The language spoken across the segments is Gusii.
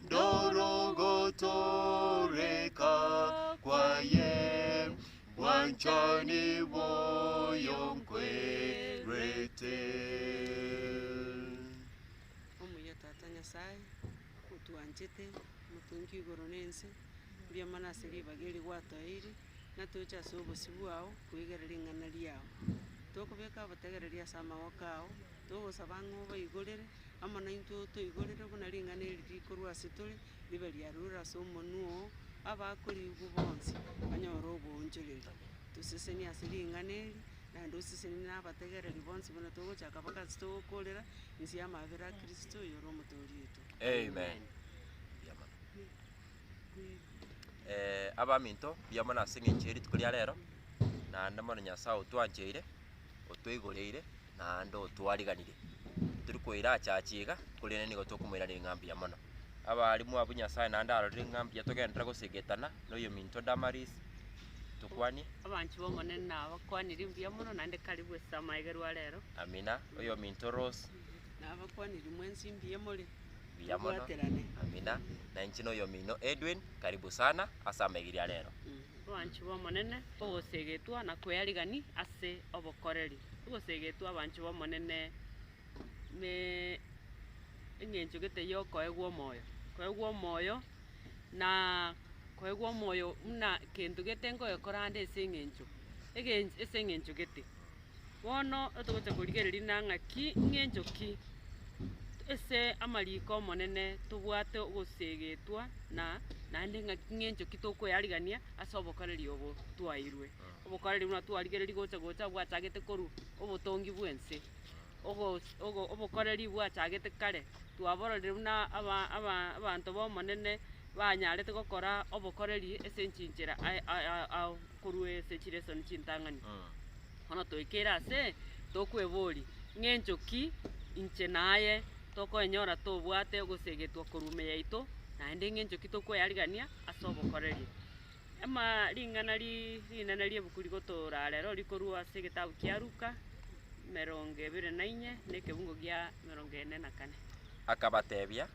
Ndorogotoreka kwaye bwanchani bwoyo nkwerete. Omuya Tata Nyasae, otwanchete, Omotongi oigoro na ense, mbuya mono ase ribaga eri gwatoeire, ng'a toche ase obosio bwao kwegera ring'ana riao. Tokobeka obotegereri ase amagoko ao, togosaba ng'a obaigorere, Amo naintwe otoigorere buna ring'ana eri rikorwa ase tore, ribe riarure ase omonwa oo, abakoriigwa bonsi banyore oboonchoreri. Toseseni ase ring'ana eri, naende oseseni na abategereri bonsi buna togochaka mpaka ase togokoorera inse y'amabera a Kristo, oyore Omotoori oito. Amen. Mbuya mono. Eh, abaminto, mbuya mono ase eng'encho ye rituko ria rero, naende mono Nyasae otwancheire. otweigoreire naende otwariganire. Tori koirachacha iga, korende nigo tokomoiraneria ng'a mbuya mono. Abarimu abwo Nyasae naende arorire ng'a mbuya togenderere gosegetana na oyominto Damaris, tokwanie. Abanchi b'Omonene nabakwanirie mbuya mono naende karibu ase amaegero a rero. Amina. Oyominto Rose, Nabakwanirie mwensi mbuya more. mbuya mono. Tobwaterane. Amina. Na inche na oyomino Edwin, karibu sana ase amaegeri a rero. Abanchwa b'Omonene, ogoseegetwa na kwearigani ase obokoreri. Ogoseegetwa abanchwa b'Omonene ne eng'encho gete y'okoegwa omoyo, koegwa omoyo na koegwa omoyo buna kento gete nkogekora ande ase eng'encho egench ase eng'encho gete. Bono togocha korigereria na ng'aki ng'encho ki ase amariko ’Omonene tobwate ogoseegetwa na naende ng'aki ng'encho ki tokoyarigania ase obokoreri obo twaeirwe. Obokoreri buna twarigereiri gocha gocha bwachagete korwa obotongi bw'ense, ogo- ogo- obokoreri bwachagete kare, twabororire buna aba- aba- abanto b'Omonene banyarete gokora obokoreri ase enchinchera aye- aye- ao. Korwa ase chilesoni chintang'ani bono toekeire ase tokweboria, Ng'encho ki inche naye tokoenyora tobwate ogoseegetwa korwa ime yaito, naende ng'encho ki tokweyarigania ase obokoreri? Ama ring'ana ri rinene riebuku rigotoa ora rero rikorwa ase egetabu kia Luka, emerongo ebere na inye na ekebungo gia emerongo ene na kane. Akabatebia,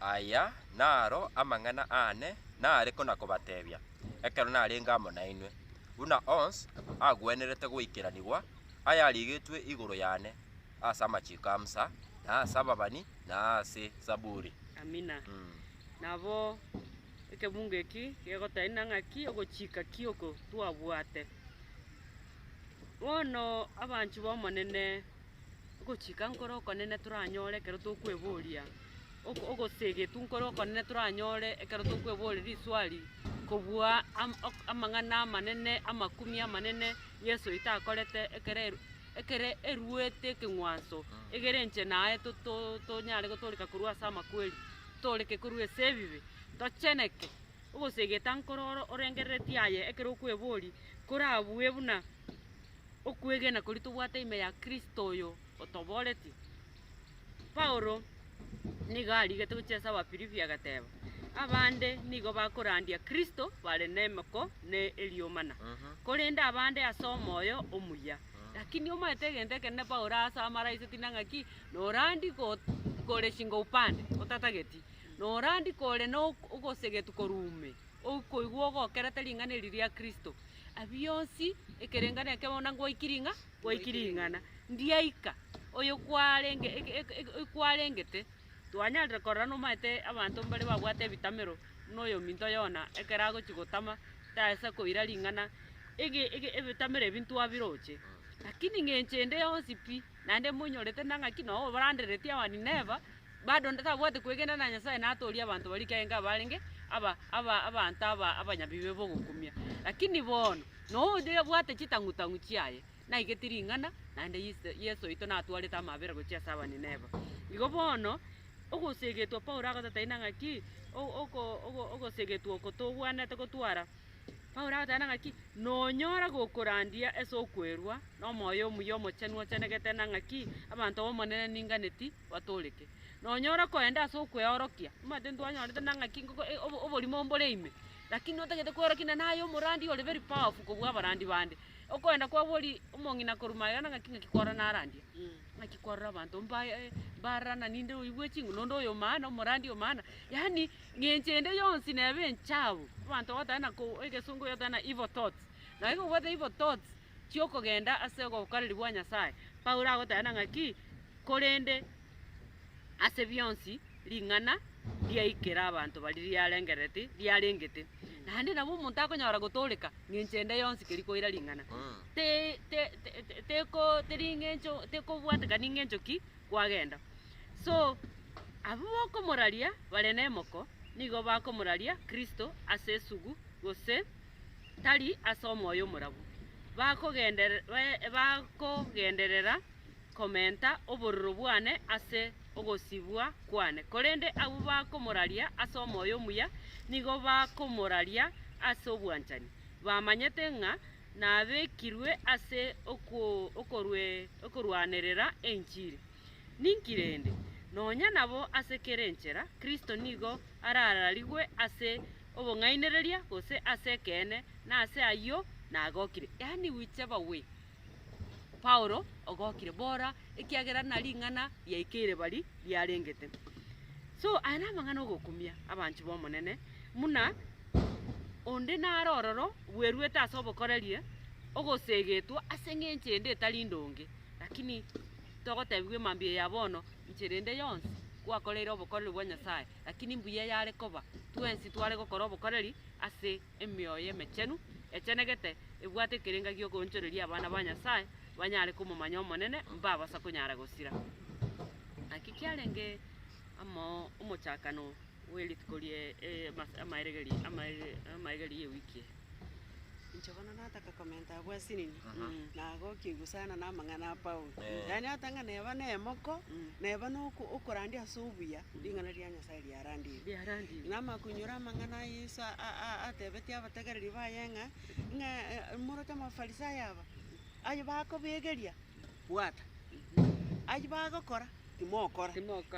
Aya naro amang'ana aane naare kona kobatebia. ekero narenge amo nainwe, buna onsi agwenerete goikeranigwa ayarigetwe igoro yane ase amachiko a Musa, na ase ababani, na ase Zaburi. Amina. Mm. Nabo ekebungo eki gegotaina ng'aki ogochika ki oko twabwate. Bono abanchwa b'Omonene Ogochika nkore okonene toranyore ekero tokweboria ok- ogoseegetwa nkore okonene toranyore ekero tokweboria riswali kobua am- ok- amang'ana amanene, amakumia amanene Yeso oito akorete ekero eru ekere eruete ekeng'wanso, egere inche naye to- to- tonyare gotooreka korwa ase amakweri, tooreke korwa ase ebibe, tocheneke. Ogoseegeta nkoro oro orengereretie aye ekero okweboria, korabue buna. okwegena koria tobwate ime ya Kristo oyo otobooretie. Paulo nigo arigete gochia ase Abafilipi agateba, Abande nigo bakorandia Kristo bare nemeko ne eriomana, korende abande ase omoyo omuya. Lakini omanyete egento ekenene Paulo aase amaraise tinde ng'aki, norandi go kore shingo upande, otatageti, norandi kore na ok- ogosegetu korwa ume, okoigwa ogokerete ring'ana eri ria Kristo. Abio onsi, ekerenga nekebe buna ngwaikire ing'a, gwaikire ing'ana. Ndiaika, oyo kwarenge eke- eke- eke- oyo kwarengete, twanyarire korora nomaete abanto mbare babwate ebitamero, buna oyominto Yona, ekero agochia gotama, tasa koira ring'ana, ege- ege ebitamero ebi ntwabiroche, lakini ng'a enchende yonsi pi. Naende monyorete na ng'aki nao obarandereretie Abanineva, bado tabwati kwegena na Nyasae natoorie abanto baria ekiagera nigo abarenge aba aba abanto aba abanyabibe bogokumia. Lakini bono, noo oyoria obwate chitang'u-tang'u chiaye, naigeti ring'ana, naende Yise Yeso oito natwarete amabera gochia ase Abanineva. Igo bono, ogosegetwa Paulo agotetagia na ng'aki, o- oko ogo ogosegetwa oko togwenerete gotwara. Paulo agateeba ng'a ki? Nonyora gokorandia ase okwerua na omoyo omuya omochenu ochenegete na ng'a ki? Abanto b'Omonene ninganeti batooreke. Nonyora koenda ase okweorokia, omanyete ntwanyorete na ng'a ki? Ngoko eh obo oborimo mbore ime, lakini otagete kweorokia na naye omorandi ore very powerful kobua abarandi bande. Okoenda kwabo ori omong'ina korwa magega na ng'a ki? Ng'aki kwarora narandia? Ng'aki kwarora abanto mbaye mbarana ninde oyo bwe chinguru, nonde oyo maana, omorandi oyo maana, yaani. Ng'encho ende yonsi neba enchabu, abanto bagotaka na ko, egesongo yotaka na evil thoughts, na gaki kobwate evil thoughts chi'okogenda ase ogokoreri gwa Nyasaye. Paulo agoteba na ng'aki, korende ase bionsi ring'ana riaikera abanto baria riarengerereti, riarengete. Naende nabo omonto akonyora gotooreka ng'encho ende yonsi keri koira ring'ana. Te, te, te, te, teko, teri ng'encho, tekobwatekani ng'encho ki, kwagenda. So abwo bokomoraria bare nemoko nigo bakomoraria Kristo ase esugu gose tari ase omoyo omorabu. Bakogenderera komenta obororo bwane ase ogosibwa kwane, korende abwo bakomoraria ase omoyo omuya nigo bakomoraria ase obwanchani, bamanyete ng'a nabekirwe ase okorwanerera enchiri. Ninki rende? Nonya nabo ase kera enchera Kristo nigo arararigwe ase obong'ainereria gose ase ekeene, na ase ayio nagokire. Yaani whiche ever way Paulo ogokire bora ekiagera na ring'ana riaikeire bari riarengete. So aya namang'ana ogokumia abanchi b'Omonene muna. Onde nare ororo bweruete ase obokorerie, ogoseegetwa ase engencho ende etari ndonge. Lakini togotebigwa emambia eya bono, inche rende yonsi gwakoreire obokoreri bwa Nyasae, lakini mbuya yare koba twensi tware gokora obokoreri ase emioyo emechenu, echenegete, ebwate ekerenga gi'okoonchoreria abana ba Nyasae banyare komomanya Omonene, mbabasa konyara gosira. Naki kiarenge amo omochakano. bwe rituko rie emas- amaeregeri amaege amaegeri y'ewiki eye. Inche bono nataka komenta abwo ase nini, nagokia igwa sana na amang'ana a Paulo. Yaani hata ng'a neba na emoko, neba na oko- okorandia ase obuya, ring'ana ria Nyasae riarandigwe. Riarandigwe. Namakunyora amang'ana a Yeso a- a- a- atebetie abategereri baye ng'a, ng'a moroche Amafarisayo aba, aye bakobegeria. Bwata, ayio bagokora timokora,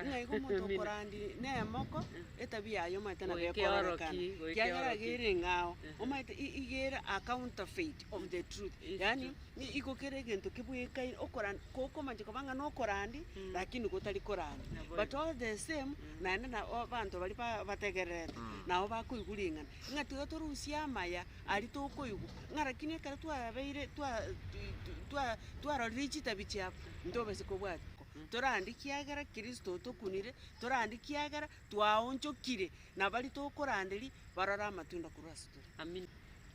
ng'a igo omonto okorandi nemoko, etabia yaye omanyete nabo ekororekana, ekiagera iga ere eng'ao, omanyete i- iga ere a counterfeit of the truth, yaani ni igo kera egento kebwekaine, okorandi kokomancha koba ng'a nokorandi, lakini gotari korandi. But all the same, naende na abanto baria ba- bategererete, nabo bakoigwa ring'ana, ng'a tiga torusie amaya Aria tokoigwa, ng'a rakini ekero twabeire twa twi- twi- twa- twarorire chitabi chiabo, ntobase kobwati ko torande ekiagera Kristo otokunire, torande ekiagera twaonchokire, na baria tokoranderia barore amatunda korwa ase tore. Amina.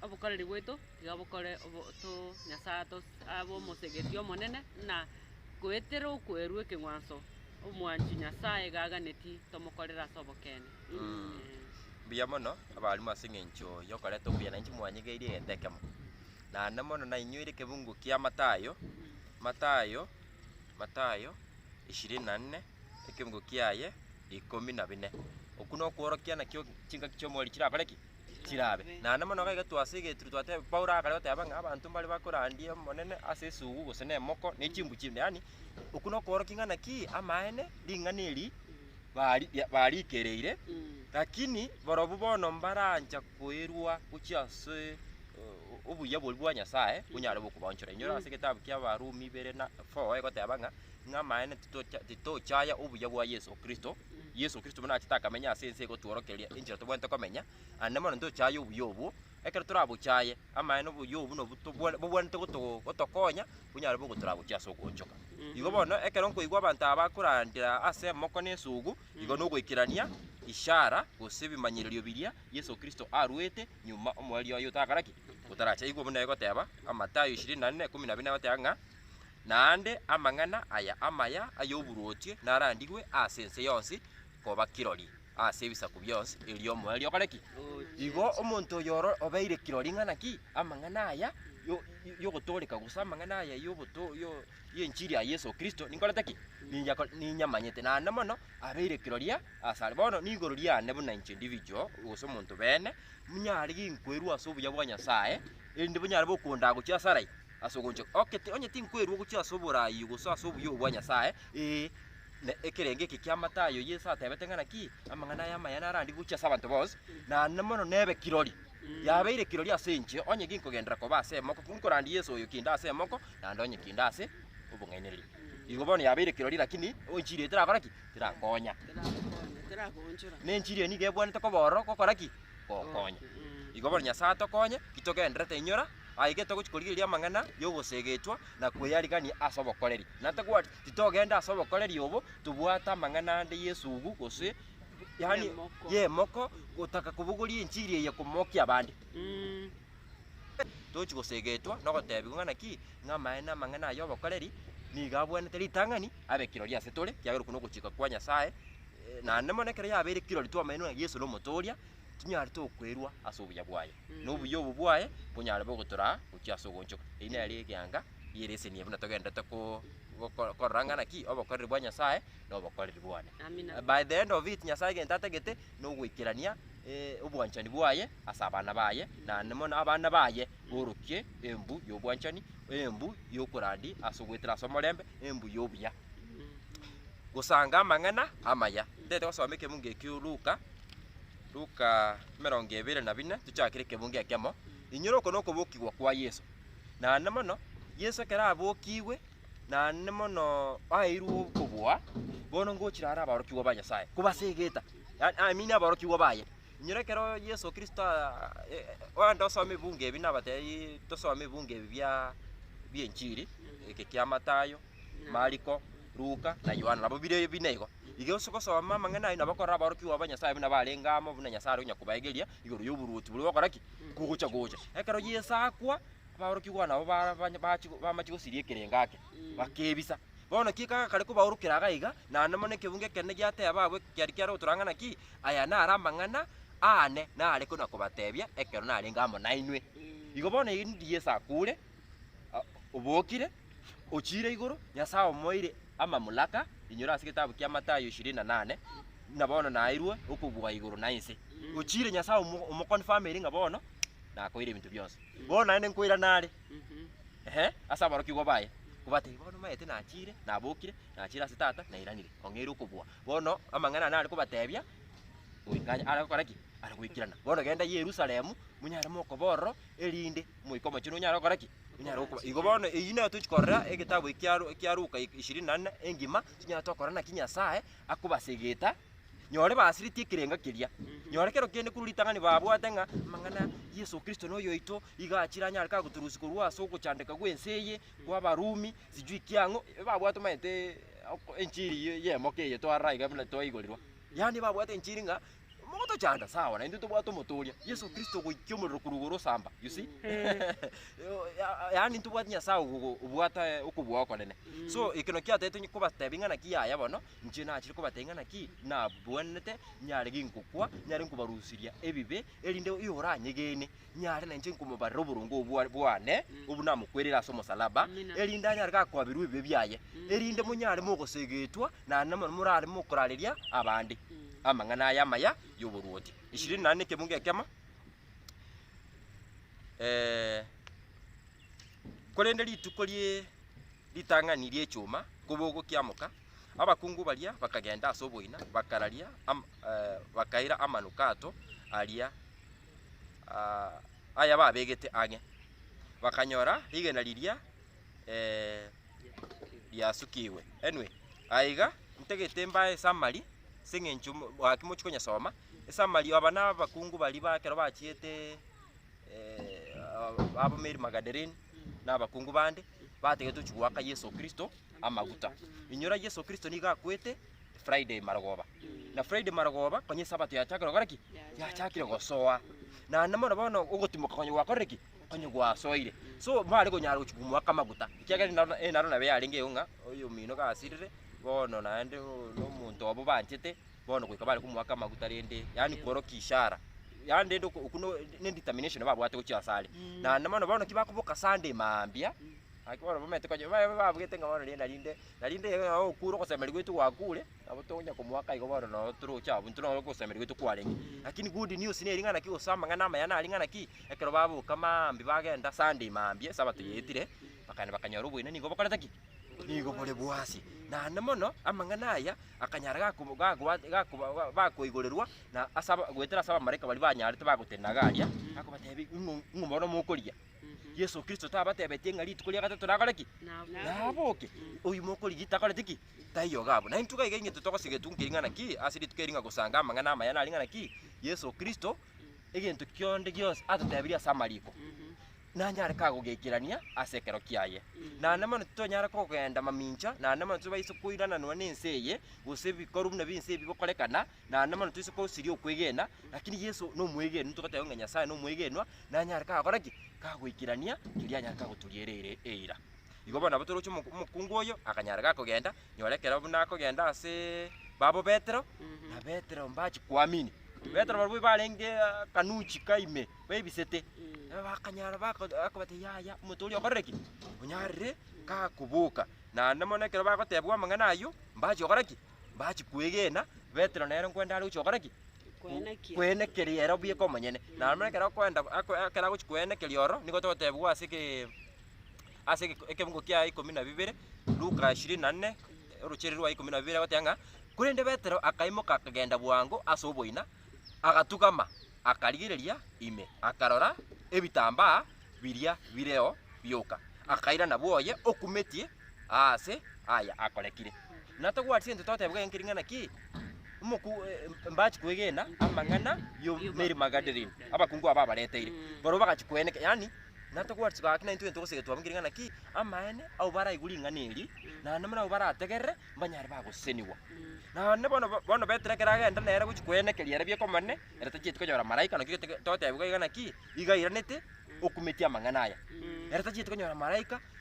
Obokoreri bwaito tiga bokore obo to Nyasae ato abe omosegetie omonene, na goetera okwerwa ekeng'wanso, omwanchwa Nyasaye iga aganeti tomokorere ase obokene. Mbuya mono abarimu ase eng'encho yokoreta obuya, nainche mwanyegeirie egento ekemo. Naende mono nainyoire ekebungo kia Matayo, Matayo, Matayo ishirini na nne, ekebungo kiaye ikomi na bine. Okwo nokworokia nakio chingaki chiomweri chirakore ki? Chirabe. Naende mono iga egetwa ase egeturwa twateba, Paulo akare goteba ng'a abanto mbare bakorandia Omonene ase esugu gose nemoko, ne chimbu chinde, yaani okwo nokworokia ng'a naki amaene ring'ana eri bari barikereire, lakini barobwo bono mbarancha koirwa gochia ase eh, obuya boria bwa Nyasae bonyare gokobaonchora. Inyora ase egetabu kia Abarumi ibere na four egoteba ng'a ng'a amaene titocha titochaya obuya bwa Yeso Kristo, Yeso Kristo buna achete akamenya ase ense egotworokeria enchera tobwenerete komenya, ande mono ntochaye obuya obwo, ekero torabochaye, amaene oboyio obo nobwo tobwa- bobwanete goto- gotokonya onyare bogo toragochie ase ogoonchoka. Igo bono, ekero nkoigwa abanto aba bakorandera ase emoko na esugu, igo nogoikerania ishara gose ebimanyererio biria Yeso Kristo aruete nyuma omoerio oye otakara ki? Otarache. Igwa buna egoteba, Amatayo ishirini na nne, ikomi na bina egoteba ng'a, Naende amang'ana aya amaya ay'oboruoti narandigwe ase ense yonsi koba kirori, ase ebisaku bionsi, erio omoerio okore ki? Igo omonto oyoro obeire kirori ring'ana ki? Amang'ana aya yo- yogotooreka gose amang'ana aya yogoto yo- y'enchiri ya Yeso Kristo ninkorete ki? Ninya ko- ninyamanyete, naende mono abeire kirori asare. Bono nigoro riane buna inche individual gose omonto bene, ninyare ginkoirwe ase obuya bwa Nyasaye, erinde bonyare bokondaa gochia asare ai, ase ogonche. Okay, ti- onye tinkoirwe gochia ase oboraai gose ase obuya obwo bwa Nyasaye, ee, Na ekerengo eke ki'amata ayio Yeso atebete ng'a naki amang'ana aya amaya narandigwe gochia ase abanto bonsi, na na mono nebe kirori. Yabeire kirori ase inche, onye ginkogenderera koba ase emoko, ki nkorandia Yeso oyo kende ase emoko, naende onye kende ase obong'ainereria. Igo bono yabeire kirori, lakini enchiri eye terakora ki? Terankonya. Terakonya, terakonchora. Na enchiri eye nigo ebwanete koba ororo gokora ki? Gokonya. Igo bono Nyasae atokonye, titogenderete inyora, aye getogochi korigereria amang'ana y'ogoseegetwa na kweyarigania ase obokoreri. Na tagwati Titogenda ase obokoreri obo tobwate amang'ana ande y'esugu gose yaani Y'emoko. y'emoko gotaka kobogoria enchiri eye komokia abande. Mm. Tochi gosegetwa nogotebigwa ng'a naki ng'a amaene amang'ana aya obokoreri nigo abwenete ritang'ani abe kirori ase tore ekiagera okwo nogochika kwa Nyasaye eh, naende mono ekero yabeire kirori twamaini ng'a Yeso nomotooria, tinyarete okoirwa ase obuya bwaye. na obuya obo bwaye bonyare bobe gotoraa gochia ase ogoonchoka. Eyio nere egeanga gieresenia buna togenderete ko goko korora ng'a naki obokoreri bwa Nyasaye na obokoreri bwane. Amina. By the end of it Nyasaye egento atagete na ogoikerania eh obwanchani bwaye ase abana baye naende mono abana baye borokie embu ya obwanchani, embu ya okorandia ase ogoetera ase omorembe, embu ya obuya. Gosanga amang'ana amaya. Ntaete gosoma ekemo nge ekio Luka. Luka emerongo ebere na bine, tochakere ekebunga ekemo. Inyora oko nokobokigwa kwa Yeso. Naende mono, Yeso ekero abokigwe, naende mono aeirwe okobua, bono ngochire are aborokigwa ba Nyasaye, kobase egeta, yaani I mean aborokigwa baye. Inyora ekero Yeso Kristo aa- e- e- oende osome ebunga ebi nabatebi tosome ebunga ebi bia bia enchiri, eke kia Matayo, Mariko, Luka, na Yohana, nabo bire bine igo. Iga onsi gosoma amang'ana ayio nabo korora aborokigwa ba Nyasae buna barenge amo, buna Nyasae are onyakobaegeria igoro y'oboruoti boria gokora ki? Kogocha gocha. Ekero Yeso akwa, aborokigwa nabo bara- bany- bachi- bamachia gosiria ekerengo ake, bakebisa. Bono ki ekero gakare kobaorokera iga iga, naende mono ekebungo ekenene giateba abwo ekiari kiare gotoranga naki, Aya naro amang'ana aane nare konakobatebia ekero narenge amo nainwe. Igo bono erinde Yeso akure, a- obokire. Ochiire igoro, Nyasae omoeire amamlaka. Inyora ase getabu kia Matayo ishirini na nane, ng'a bono naeirwe okobua igoro na ense. Ochiire Nyasae omo- omoconfirmeri ng'a bono nakoeire ebinto bionsi. Bono naende nkoirana are, ehe, ase aborokigwa baye, kobatebia bono maete nachiire, nabokire, nachiire ase Tata, nairanire, ong'eire okobua. Bono amang'ana nare kobatebia, goika are gokora ki? Are goikerana. Bono genda Yerusalemu, monyare mokoba ororo, erinde Omoika Omochenu onyare gokora ki? Onyare gokoba. Igo bono eyio nero tochi korora egetabu eki kia Lu- kia Luka i- ishirini na nne engima, tonya tokora naki Nyasae akobasegeta, nyore basireti ekerengo keria. Nyore kero kende korwa ritang'ani babwate ng'a amang'ana Yeso Kristo noyo oito, iga achire anyare ka gotorusia korwa ase ogochandeka gw'ense eye, kwa Abarumi, sijui ki ang'o, e- babwate omanyete oko enchiri ye- y'emoka eye twarora iga buna twaigorirwa. Yaani babwate enchiri ng'a Mogotochanda, sawa, naintwe tobwate omotooria, Yeso Kristo ogoikia omorero korwa igoro osamba, you see? Ya- yaani ntobwati Nyasae ogo- obwata eh, okobua okonene. So, ekero kiatagete onye kobatebia ng'a naki yaya bono, inche nachire kobatebia ng'a naki nabwenerete, nyare ginkokwa, nyare nkobarusiria ebibe, erinde oyoranyegene, nyare nainche nkomobarera oboronge obwa- bwane obwo namokwereire ase omosalaba, Amina. erinde anyare gakoabirwa ebibe biaye, erinde monyare mogosegetwa naende namo morare mokorareria abande amang'ana aya amaya y'oboruoti. Ishirini naende nekebungo ekemo, korende rituko rie ritang'ani ri'echuma kobogo kiamoka, abakungu baria bakagenda ase oboina, bakararia am- bakaira amanukato aria aya babegete ang'e, bakanyora rigena riria riasukigwe. Anyway, aiga ntagete mbae esummary ase eng'encho mo- gaki mochi konyesoma, esummary aba na abakungu baria ba ekero bachiete aba Mary Magadarene na abakungu bande, batagete gochi goaka Yeso Kristo amaguta. Inyora Yeso Kristo nigo akwete Friday marogoba. Na Friday marogoba konya Sabato yachakire gokora ki? Yachakire gosoa. Naende mono bono ogotimoka konya gwakorire ki? Konya gwasoire. So mware konyara gochia komoaka amaguta. Ekiagera eri naro eri naro nabo yarenge igo ng'a oyomino gasirire bono naende o- na omonto obo banchete bono goika bare komoaka amaguta rende yaani kworokia ishara. Yaani rende oko okwo no- ne determination babwate gochia ase are. Naende mono bono ki bakoboka Sunday mambia, gaki bono bamanyete konya babe babwete ng'a bono rienda rinde Na rinde ekero nao okure ogosemeria gwaito gwakure, nabo tonya komoaka igo bono nao toroche abwo, intwe nabo ogosemeria gwaito kwarenge. Lakini good news neri ng'a naki gose amang'ana amaya nari ng'a naki, ekero baboka maambia bagenda Sunday maambia esabato yaetire, bakagenda bakanyora oboineini nigo bokorete ki? Nigo bore bwasi. Naende mono, amang'ana aya akanyara gakobo gakoba gakoba ba bakoigorerwa na asaba goetera as'abamalaika baria banyarete bagotenena iga aria, akobatebia ing'o ing'o bono mokorigia. Yeso Kristo tabatebetie ng'a rituko ria gatato nakore ki? Naboke. Oyio mokorigia takoreti ki? Taiyoga abwo. Naintwe gaiga ing'ito togosiga etunku eri ng'ana ki? Ase rituko eri ng'a gosanga amang'ana amaya nari ng'ana ki? Yeso Kristo egento kionde gionsi atotebirie ase amariko nanyare kagogekerania ase ekero kiaye. Naende mono titonyara kogenda mamincha, naende mono tibaiso koirananwa nense eye, gose ebikorwa buna binse ebi bigokorekana, Naende mono toise kosiria okwegena, lakini Yeso nomwegenwa, togoteeba ng'a Nyasae nomwegenwa, nanyare kagokora ki? Kagoikerania keria anyare kagoturia ere ere eira. Igo bono nabo toroche omo- omokungu oyo, akanyara gakogenda, nyora ekero buna akogenda asee babo Petero, na Petero mbachi koamini. Petero barobwo barenge akanuchi ka ime, baebisete, nabo bakanyara bako akobata yaya, omonto oria okorire ki? Onyarire kakoboka. Naende mono ekero bagotebwa amang'ana ayio, mbachi gokora ki? Bachia kwegena, Petero nere nkwende are gochia gokora ki? Kwenekia. Kwenekeria ere obieka omonyene. Naro buna ekero akoenda, ako- ekero agochia kwenekeria ororo, nigo togotebiwa ase ke, ase eke- ekebugo kia ikomi na bibere, Luka ishirini na nne, orochereria rwa ikomi na bibere, agoteba ng'a, Korende Petero akaimoka akagenda bwango ase oboina, agatugama, akarigereria ime, akarora ebitambaa biria bireo bioka, akairana bwoye okumetie, aase aya akorekire. Na togwatisie intwe toteba gaki ring'ana ki, omoku mbachi kwegena amang'ana yo Mary Magdalene, abakungu aba abareteire, barabwo bagachi kweneka, yani na togwatisie gaki na intwe togosegete twabunge ring'ana ki, amaene abwo baraigwe ring'ana eri, naende buna abwo barategerere, mbanyare bagosesenigwa. Naende bono bono Petero ekero agenda nere gochia kwenekeria ere bi'ekomane, ere tachieti konyora maraika, naki gete toteba iga ring'ana ki, iga airanete okumetia amang'ana aya. Ere tachieti konyora maraika.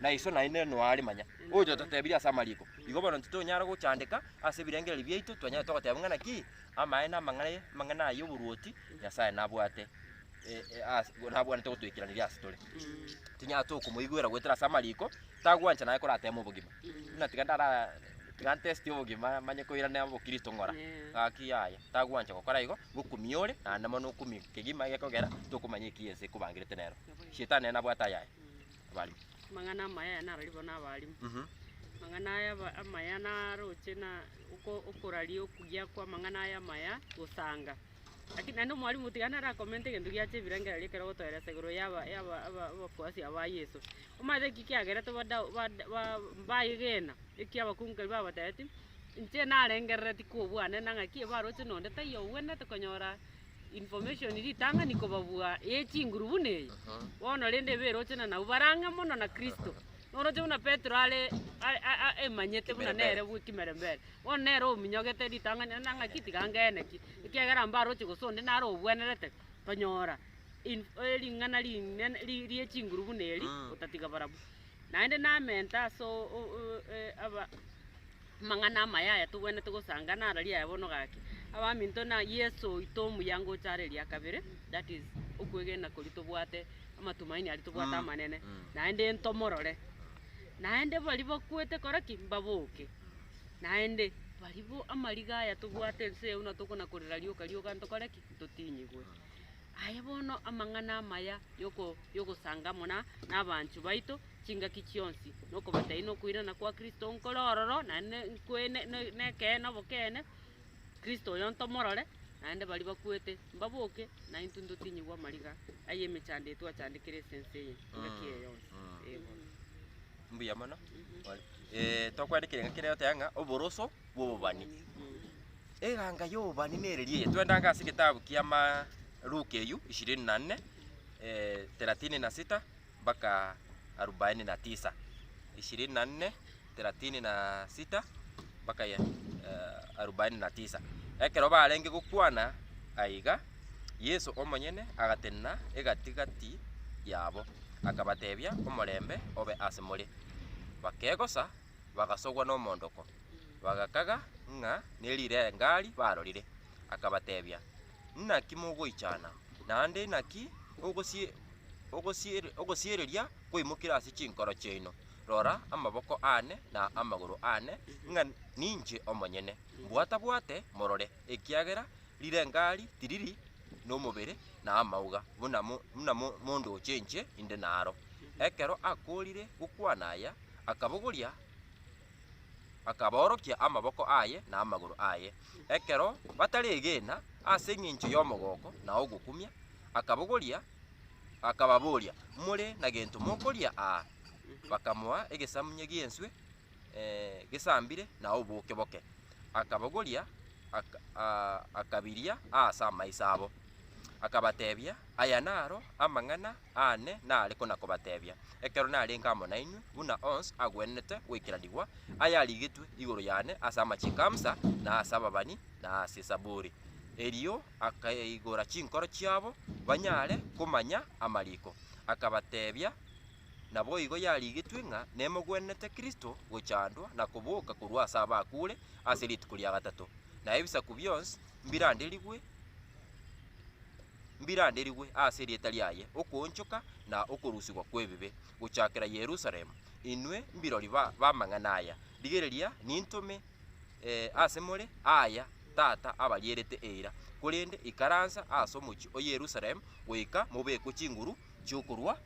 na iso naende noare manya oyo totebirie ase amariko. Igo bono ntitonyara gochandeka ase ebirengererio biaito, twanyare togoteba ng'a naki amaene amang'ai amang'ana aya oboruoti Nyasae nabwate e- e- as- nabwanete gotoikeraneria ase tore. Tinyara tokomoigwera goetera ase amariko, tagwancha naye koratema obogima. Buna tiga ndara tiga ntesti obogima manye koirane obokristo ng'ora, Eeh. gaki yaya, tagwancha gokora igo, ngokumia ore, naende mono okumie kegima egekogera tokomanya ekiya ense ekobangerete nero. Shetani nere nabwate ayaye. abarimo. Amang'ana amaya narari bo nabarimo. Amang'ana aya amaya naroche na oko- okoraria okuya kw'amang'ana aya amaya gosanga. Lakini naende omwalimu tiga nara comment egento giacha ebirengererio ekero ogotoeresa igoro yaba yaba aba abakuasi aba yeso. Omanyete eki kiagerete ba Dau- ba- Da- ba- baegena eki abakungu erio babatebitie, inche narengerereti kobwanera ng'a ki ebaroche nonde taiyo ogwenerete konyora information ritang'ani kobabua ye chinguru buna eye bono rende eberoche na nabwo bare ang'e mono na kristo oroche buna petero are are- a- a- emanyete buna Kimerembere. nere bwe kimerembere bono nere ominyogete ritang'ani ande ng'a ki tiga ngene ki ekiagera mbaroche gose onde nare obwenerete tonyora in ering'ana rinene ri- rie chinguru buna eri Mm. otatiga barabwo naende namenta ase o- o- o- e- aba. Amang'ana amaya aya togwenerete gosanga nararia aya bono gaki, abaminto na Yeso oito omuyango ocha are eria kabere, that is okwegena koria tobwate, amatumaini aria tobwate amanene, naende ntomorore. Naende baria bakwete kore ki? mbaboke. Naende barabwo amariga aya tobwate ense eye buna tokona korera rioka rioka ntokore ki? ntotinyigwe. Aye bono amang'ana amaya yoko yogosanga amo na na abanchwa baito. chingaki chionsi, na okobataina okoirana kwa Kristo nkore ororo, naende nkwene nekeene obokeene, Kristo oyo ntomorore, naende baria bakwete mbaboke, naintwe ntotinyigwe amariga ay'emechando eye twachandekire ase ense eye engaki eye yonsi. Ee bono. Mbuya mono. tokwandekia engaki ere egoteba ng'a oboroso bw'obobani. Eganga y'obobani nere eye, twende ang'e ase egetabu kiamaa Luka eywo, ishirini na nne, thelathini na sita. mpaka arubaini na tisa, ishirini na nne, thelathini na sita, mpaka eh, arubaini na tisa. Ekero barenge gokwana aiga, Yeso omonyene agatenena egati-gati yabo, akabatebia, Omorembe obe ase more. Bakegosa, bagasogwa nomoondoko, bagakaga ng'a nerirengari barorire. Akabatebia, Naki mogoichana? Naende inaki ogosie- ogosiere- ogosiereria kwaimokire ase chinkoro chiaino? Rora amaboko aane na amagoro aane, ng'a ninche omonyene. Mbwatabwate morore, ekiagera rirengari tiriri nomobere na amauga, buna mo- buna mo- mondoche inche inde naro. Ekero akoorire gokwana aya, akabogoria. akabaorokia amaboko aye na amagoro aye, ekero bataregena ase engencho y'omogooko na ogokumia, akabogoria, akababoria, More na gento mokoria aa? Bakamoa egesamunye gi'enswe gesambire na oboke boke, akabogoria, aka aa akabiria aase amaiso abo, akabatebia, Aya naro amang'ana aane nare kona-kobatebia, ekero narenge amo nainwe, buna onsi agwenerete goikaranigwa ayarigetwe igoro yane ase amachiko a Musa, na ase ababani, na ase Esaburi. Erio akaigora chinkoro chiabo banyare komanya amariko, akabatebia, Naboigo yarigetwe ng'a nemogwenerete Kristo gochandwa na koboka korwa ase abakure ase rituko ria gatato, na ebisaku bionsi mbiranderigwe mbiranderigwe aase erieta riaye okoonchoka na okorusigwa kw'ebibe gochakera Yerusalemu, inwe mbirori ba b'amang'ana aya, rigereria nintome aase more aaya tata abarierete eira, korende ikaransa aase omochie o Yerusalemu goika mobekwe chinguru chi'okorua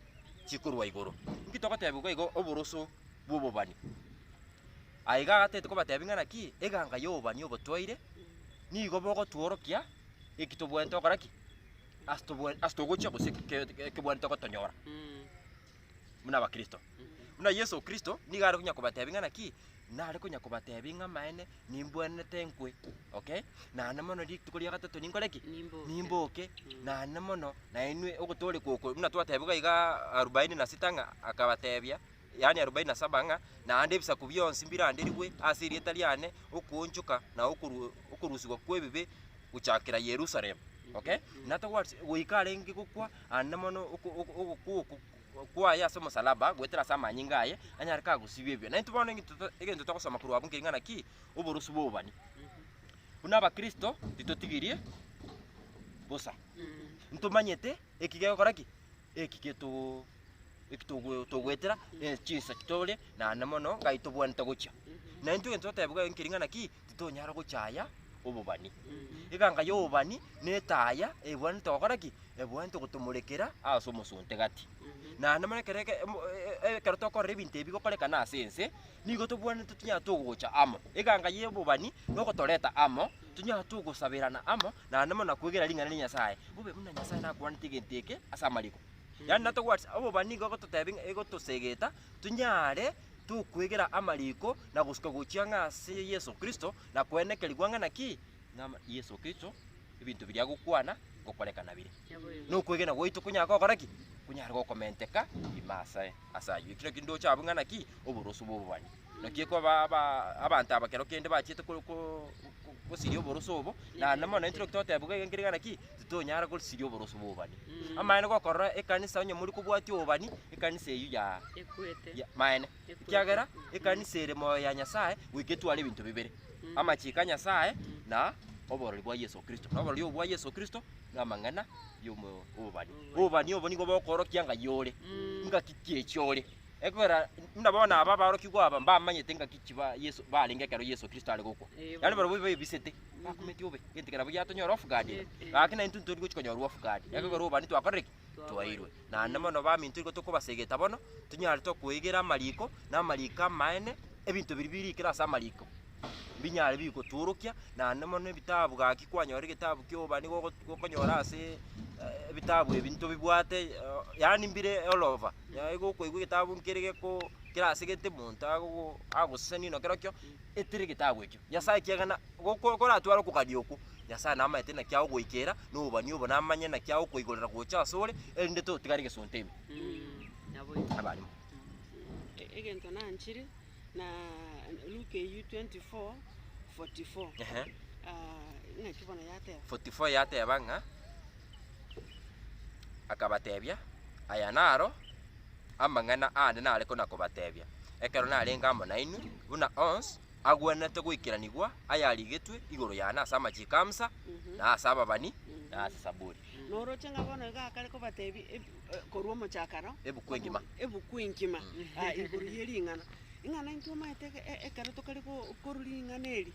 chikorua igoro. Inki togotebigwa igo oboroso bw'obobani? Aiga agatete kobatebia ng'a naki eganga y'obobani obo twaire nigo bogotworokia. eki tobwenerete gokora ki? Ase tobwe- ase togochia gose eki ke- ke- kebwenerete gotonyora buna abakristo. Buna Yeso Kristo nigo are konya kobatebia ng'a naki, nare konya kobatebia ng'a amaene nimbwenerete nkwe, okay? Naende mono rituko ria gatato ninkore ki? Nimboke. Nimboke, Mm. naende mono nainwe ogotoorekwa oko buna twatebiwe igaa arubaini na sita ng'a akabatebia yaani arobaini na saba, ng'a naende ebisaku bionsi mbiranderigwe ase erieta riane, okoonchoka na okoru- okorusigwa kw'ebibe gochakera Yerusalemu. Okay? Nata what? Goika arenge gokwa, aande mono oko- oko- ogokwa oko kwaye ase omosalaba, goetera ase amanyinga aye, anyare kagosibia ebibe. Naintwe bono egento to- egento togosoma korwa abwo nkeri ng'a naki? Oborosu bw'obobani. Buna abakristo, titotigirie bosa. Ntomanyete eki gekogora ki? Eki geto- eki togo- togoetera ne chinsa chitore naende mono ng'ai tobwanete gochia. Na intwe egento totebigwa ere nkering'ana ki, titonyara gochia aya obobani. Eganga ya obobani na etaya ebwanete gokora ki? Ebwanete gotomorekera ase omosonte gati. Naende mono ekero eke- mo- e- e- ekero tokorora ebinto ebi bigokorekana ase ense, nigo tobwanete tonya togocha amo. Eganga ya obobani nogotoreta amo, tonya togosaberana amo, naende buna kwegena ring'ana ria Nyasae, bobe buna Nyasae nakwanete egento eke ase amariko. Yaani natobwati obobani igo egototebia ng'a egotosegeta tonyare tokwegera amariko na gosuka gochia ng'a ase Yeso Kristo na koenekerigwa ng'a naki? Ng'ama Yeso Kristo ebinto biria agokwana ngokorekana bire. Na okwegena gwaito konyare gokora ki? Konyare gokomenteka ime asae ase ayio. Ekio nakio ndoche abwo ng'a naki? Oboroso bw'obobani. naki ekoba aba abanto aba kero kende bachiete ko- ko- ko- kosiria oboroso obo, na ande mono intwe totebigwa iga nkerigana ki, titonyara korisiria oboroso bwa obani. Amaene gokorora ekanisa onye mori kobwatia obani, ekanisa eyio ya Ekwete. ya maene, Ekwete. ekiagera ekanisa ere moyo ya Nyasae goika etware ebinto bibere, Mm. amachiko a Nyasae na oborori bwa Yeso Kristo. Na oborori obo bwa Yeso Kristo na amang'ana yomo obani. Obani obo nigo bokorokia ng'ai ore, Mm. ngaki ki echi ore. Ekiagera buna bono aba aborokigwa aba mbamanyete ngaki ki ba Yesu barenge ekero Yesu Kristo are gokwa. Yaani barabwo baebisete. Bakometie obe. Gento kera buya tonyora off guard. Gaki na intwe tori gochi konyora off guard. Ekero oba ni twakorire ki? Twairwe. Na ne mono ba minto igo tokobasegeta bono tunyare tokoegera amariko na amariko amaene ebinto biri birikire ase amariko. mbinyare bigotworokia, naende mono ebitabu gaki kwanyora egetabu kia ubani gogo gokonyora asee ebitabu ebi ntobibwate eh, yaani mbire all over, yaani gokoigwa egetabu nkere geko kera ase gete monto agogo agoseseni ino kerokio etire egetabu ekio, Nyasae ekiagera goko koratware okogania okwo, Nyasae namaete naki agogoikera na obobani obo namanye naki agokoigorera gocha ase ore, erinde totigare egesonte ime. Naboigo. Nabarimo. E- egento nanchire. Na Luke eyio 24, 44. Ehe. Ah, ng'aki bono yateba? 44 yateba ng'a akabatebia, Aya naro amang'ana aane nare kona-kobatebia, ekero narenge amo nainwe, buna onsi agwenerete goikeranigwa ayarigetwe igoro yane ase amachiko a Musa, na ase ababani, na ase Zaburi. Noroche ng'a bono iga akare kobateebia eb- e- korwa omochakaro, Ebuku engima. ebuku engima aa, igoro ye ring'ana. Ing'ana intwe omanyete eke- e- ekero tokare go- korwa ring'ana eri,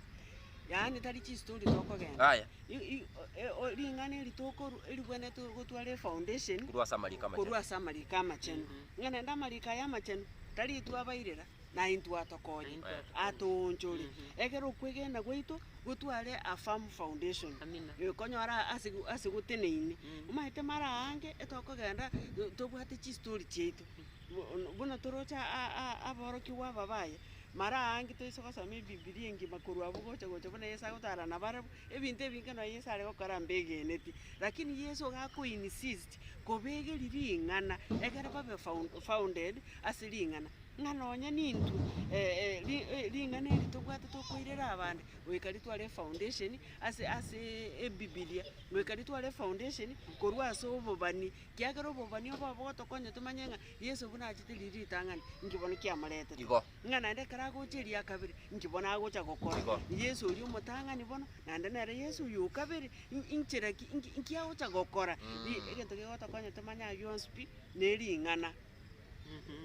yaani tari chistori tokogenda. Aya. I- i- o- e- o- ring'ana eri tokorwa eribwenerete gotwara efoundation, Korwa ase amariko amachenu. korwa ase amariko amachenu. Ng'a naende amariko aya amachenu, tari twabairera, na intwe atokonye, atoonchore, ekero okwegena gwaito gotware a firm foundation, ekonyora ase ase goteneine, omanyete mara aange etogokenda tobwate chistori chiaito, bu- buna toroche a- a- aborokigwa aba baye, mara aange toise gosoma ebibilia engima korwa abwo gocha gocha buna Yeso agotara nabarabwo, ebinto ebinge nonya Yeso aregokora mbegeneti, lakini Yeso iga ako insist. Kobegeria ring'ana, egere babe found- founded ase ring'ana, ng'a nonya nintwe eh, ri- eh, ring'ana eri tobwate tokoirera abande, goika ritware efoundation ase aseee ebibilia, goika ritware efoundation korwa ase obobani, kiagera obobani obo abwo bogotokonya tomanye ng'a Yeso buna achete riria ritang'ani, inki bono kiamoretete. Igo ng'a naende ekero agocha eria kabere, inki bono agocha gokora? Igo. Yeso oria omotang'ani bono, naende nere Yeso oyo o kabere, in- inchera ki inki inki agocha gokora? Ri- Mm. egento kegotokonya tomanye ayio yonsi pi, na ering'ana.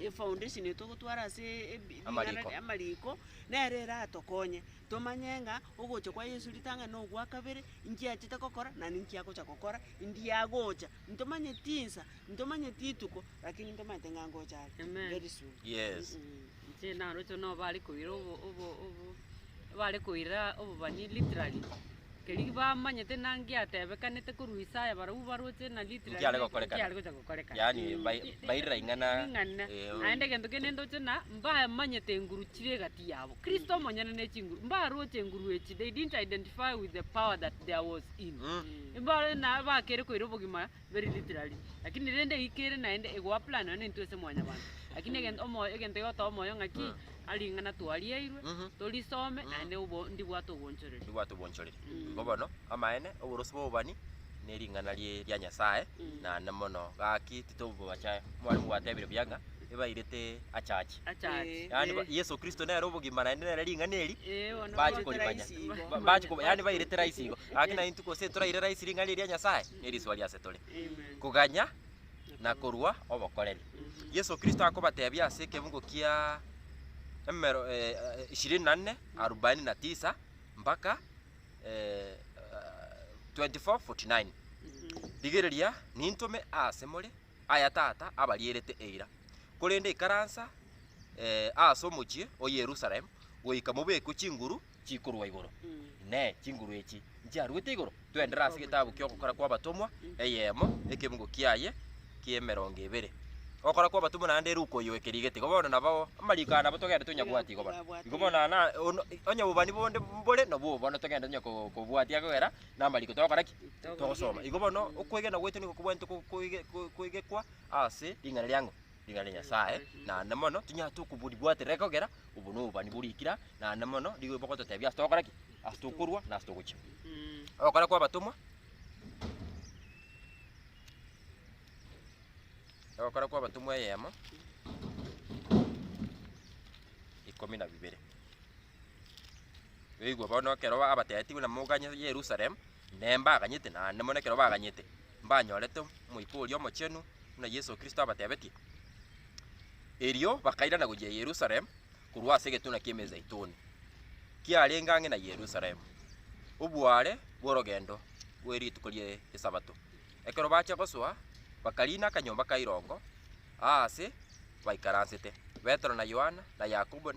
Efoundation eye togotwara ase ebi- ring'ana Amariko. ri- amariko, nere eratokonye tomanye ng'a ogocha kwa Yeso ritang'ani na ogwa kabere, inki achete gokora, naende inki agocha gokora, india agocha Ntomanyeti insa, ntomanyeti rituko, rakini ntomanyete ng'a ngocha are, Amen. very soon. Yes. Mh, mh. Inche naroche buna bare koira obo obo obo bare koira obobani literally, keria bamanyete ng'a ngiatebekanete korwa Isaya barobwo baroche ng'a literally Nkiare naki gokorekana. nkiare gocha gokorekana. Yaani Eh, bai- eh, bairira eh, ing'ana, ring'ana. eh, oh. Naende egento kende ndoche ng'a mbamanyete enguru chire egati yabo. Kristo omonyene ne chinguru, mbaroche enguru echi, they didn't identify with the power that there was ime. Mbare naye bakere koira obogima very literally lakini rende eyike ere naende ego apply nonya nintwe ase mwanyabanto lakini egento omoyo egento egotoo omoyo ng'a ki a ring'ana twariairwe torisome naende obo ndibwate obonchoreri. Ndibwate obonchoreri. Igo bono amaene oborosi bwa obobani ne ring'ana rie ria Nyasaye naende mono gaki titobacha mwaremo gwatebire buya ng'a ebairete achache. Achache. Yaani ba- Yesu Kristo nere obogima naende nere ring'ana eri Eh, bono bachi bairete korimanya raisi igo. Ba- bachi ko- yaani bairete raisi igo gaki naye intuko gose toraire raisi ring'ana eri ria Nyasaye nerisoa riase tore Amen. koganya na korwa obokoreri. Yesu Kristo akobatebia ase ekebungo kia emero eh, eh, ishirini na nne arubaini na tisa mpaka eh, ah, 24:49 Rigereria nintome aase more aya tata abarierete eira, korende ikaransa aase omochie o Yerusalemu goika mobekwe chinguru chikorwa igoro. Inee! Chinguru echi nchiaruete igoro? Twenderere ase getabu ki'Ogokora kw'Abatomwa eyemo ekebugo kiaye ki'emerongo ebere. Ogokora kw'Abatomwa naende Luka oyo oekerie gete. Igo bono nabo amariko aya nabo togende tonyabwati igo bono. Igo bono onye obobani bonde mbore nabwo obo bono togende tonya kobwatia kogera Namariko togokora ki? Togosoma. Igo bono okwegena gwaito nigo kobwanete ko- koege- ko- koegekwa ase ring'ana riang'o? Ring'ana ria Nyasae, naende mono tonyare tokoboribwatera ekogera obo na obani bo rikira, naende mono rigo bogototebia ase togokora ki? Ase tokorwa na ase togochia. Ogokora kwa abatomwa Ogokora kwa abatomwa eyemo, ikomi na bibere. Oigwe bono ekero abateetigwe namoganye Yerusalemu, Inee, mbaganyete? Naende mono ekero baganyete, mbanyorete Omoika oria Omochenu, buna Yeso Kristo abatebetie. Erio bakairana gochia Yerusalemu korwa ase egetuna ki'Emezeituni, kiarenge ang'e na Yerusalemu, oboaare bw'orogendo bwe rituko ri'Esabato. Ekero bachia gosoa, bakariina akanyomba ka irongo aase baikaransete, Petero na Yohana, na Yakobo,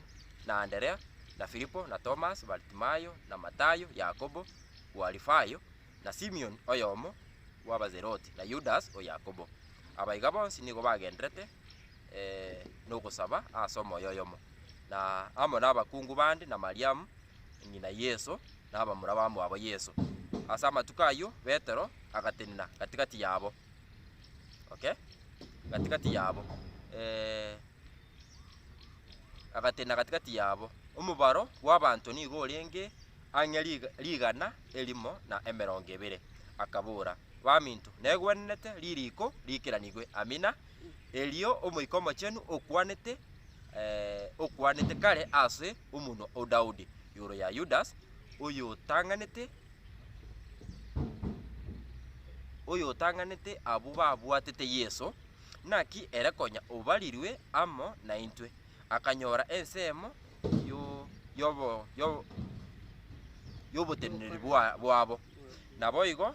na Anderea, na Filipo, na Tomas, Baritimayo, na Matayo, Yakobo bw'Alifayo, na Simion oyomo bw'Abazeloti, na Yudas o Yakobo. Aba iga bonsi nigo bagendererete nogosaba ase omoyo oyomo, na amo nabakungu bande, na Mariamu ng'ina Yeso, na abamura bamwabo Yeso. Ase amatuko ayio Petero agatenena gati-gati yabo, okay, gati-gati yabo, eh, agatenena gati-gati yabo. Omobaro bw'abanto nigo orenge ang'e rig- rigana erimo na emerongo ebere. Akabora, Baminto, negwenerete ririko riikeranigwe, Amina, Erio Omoika Omochenu okwanete, okwanete kare ase omonwa o Daudi igoro ya Yudas, oyotang'anete, oyotang'anete abwo babwatete Yeso, Naki ere konya obarirwe amo naintwe, akanyora ensemo yo yobo yo yoboteneneri bwa bwabo, naboigo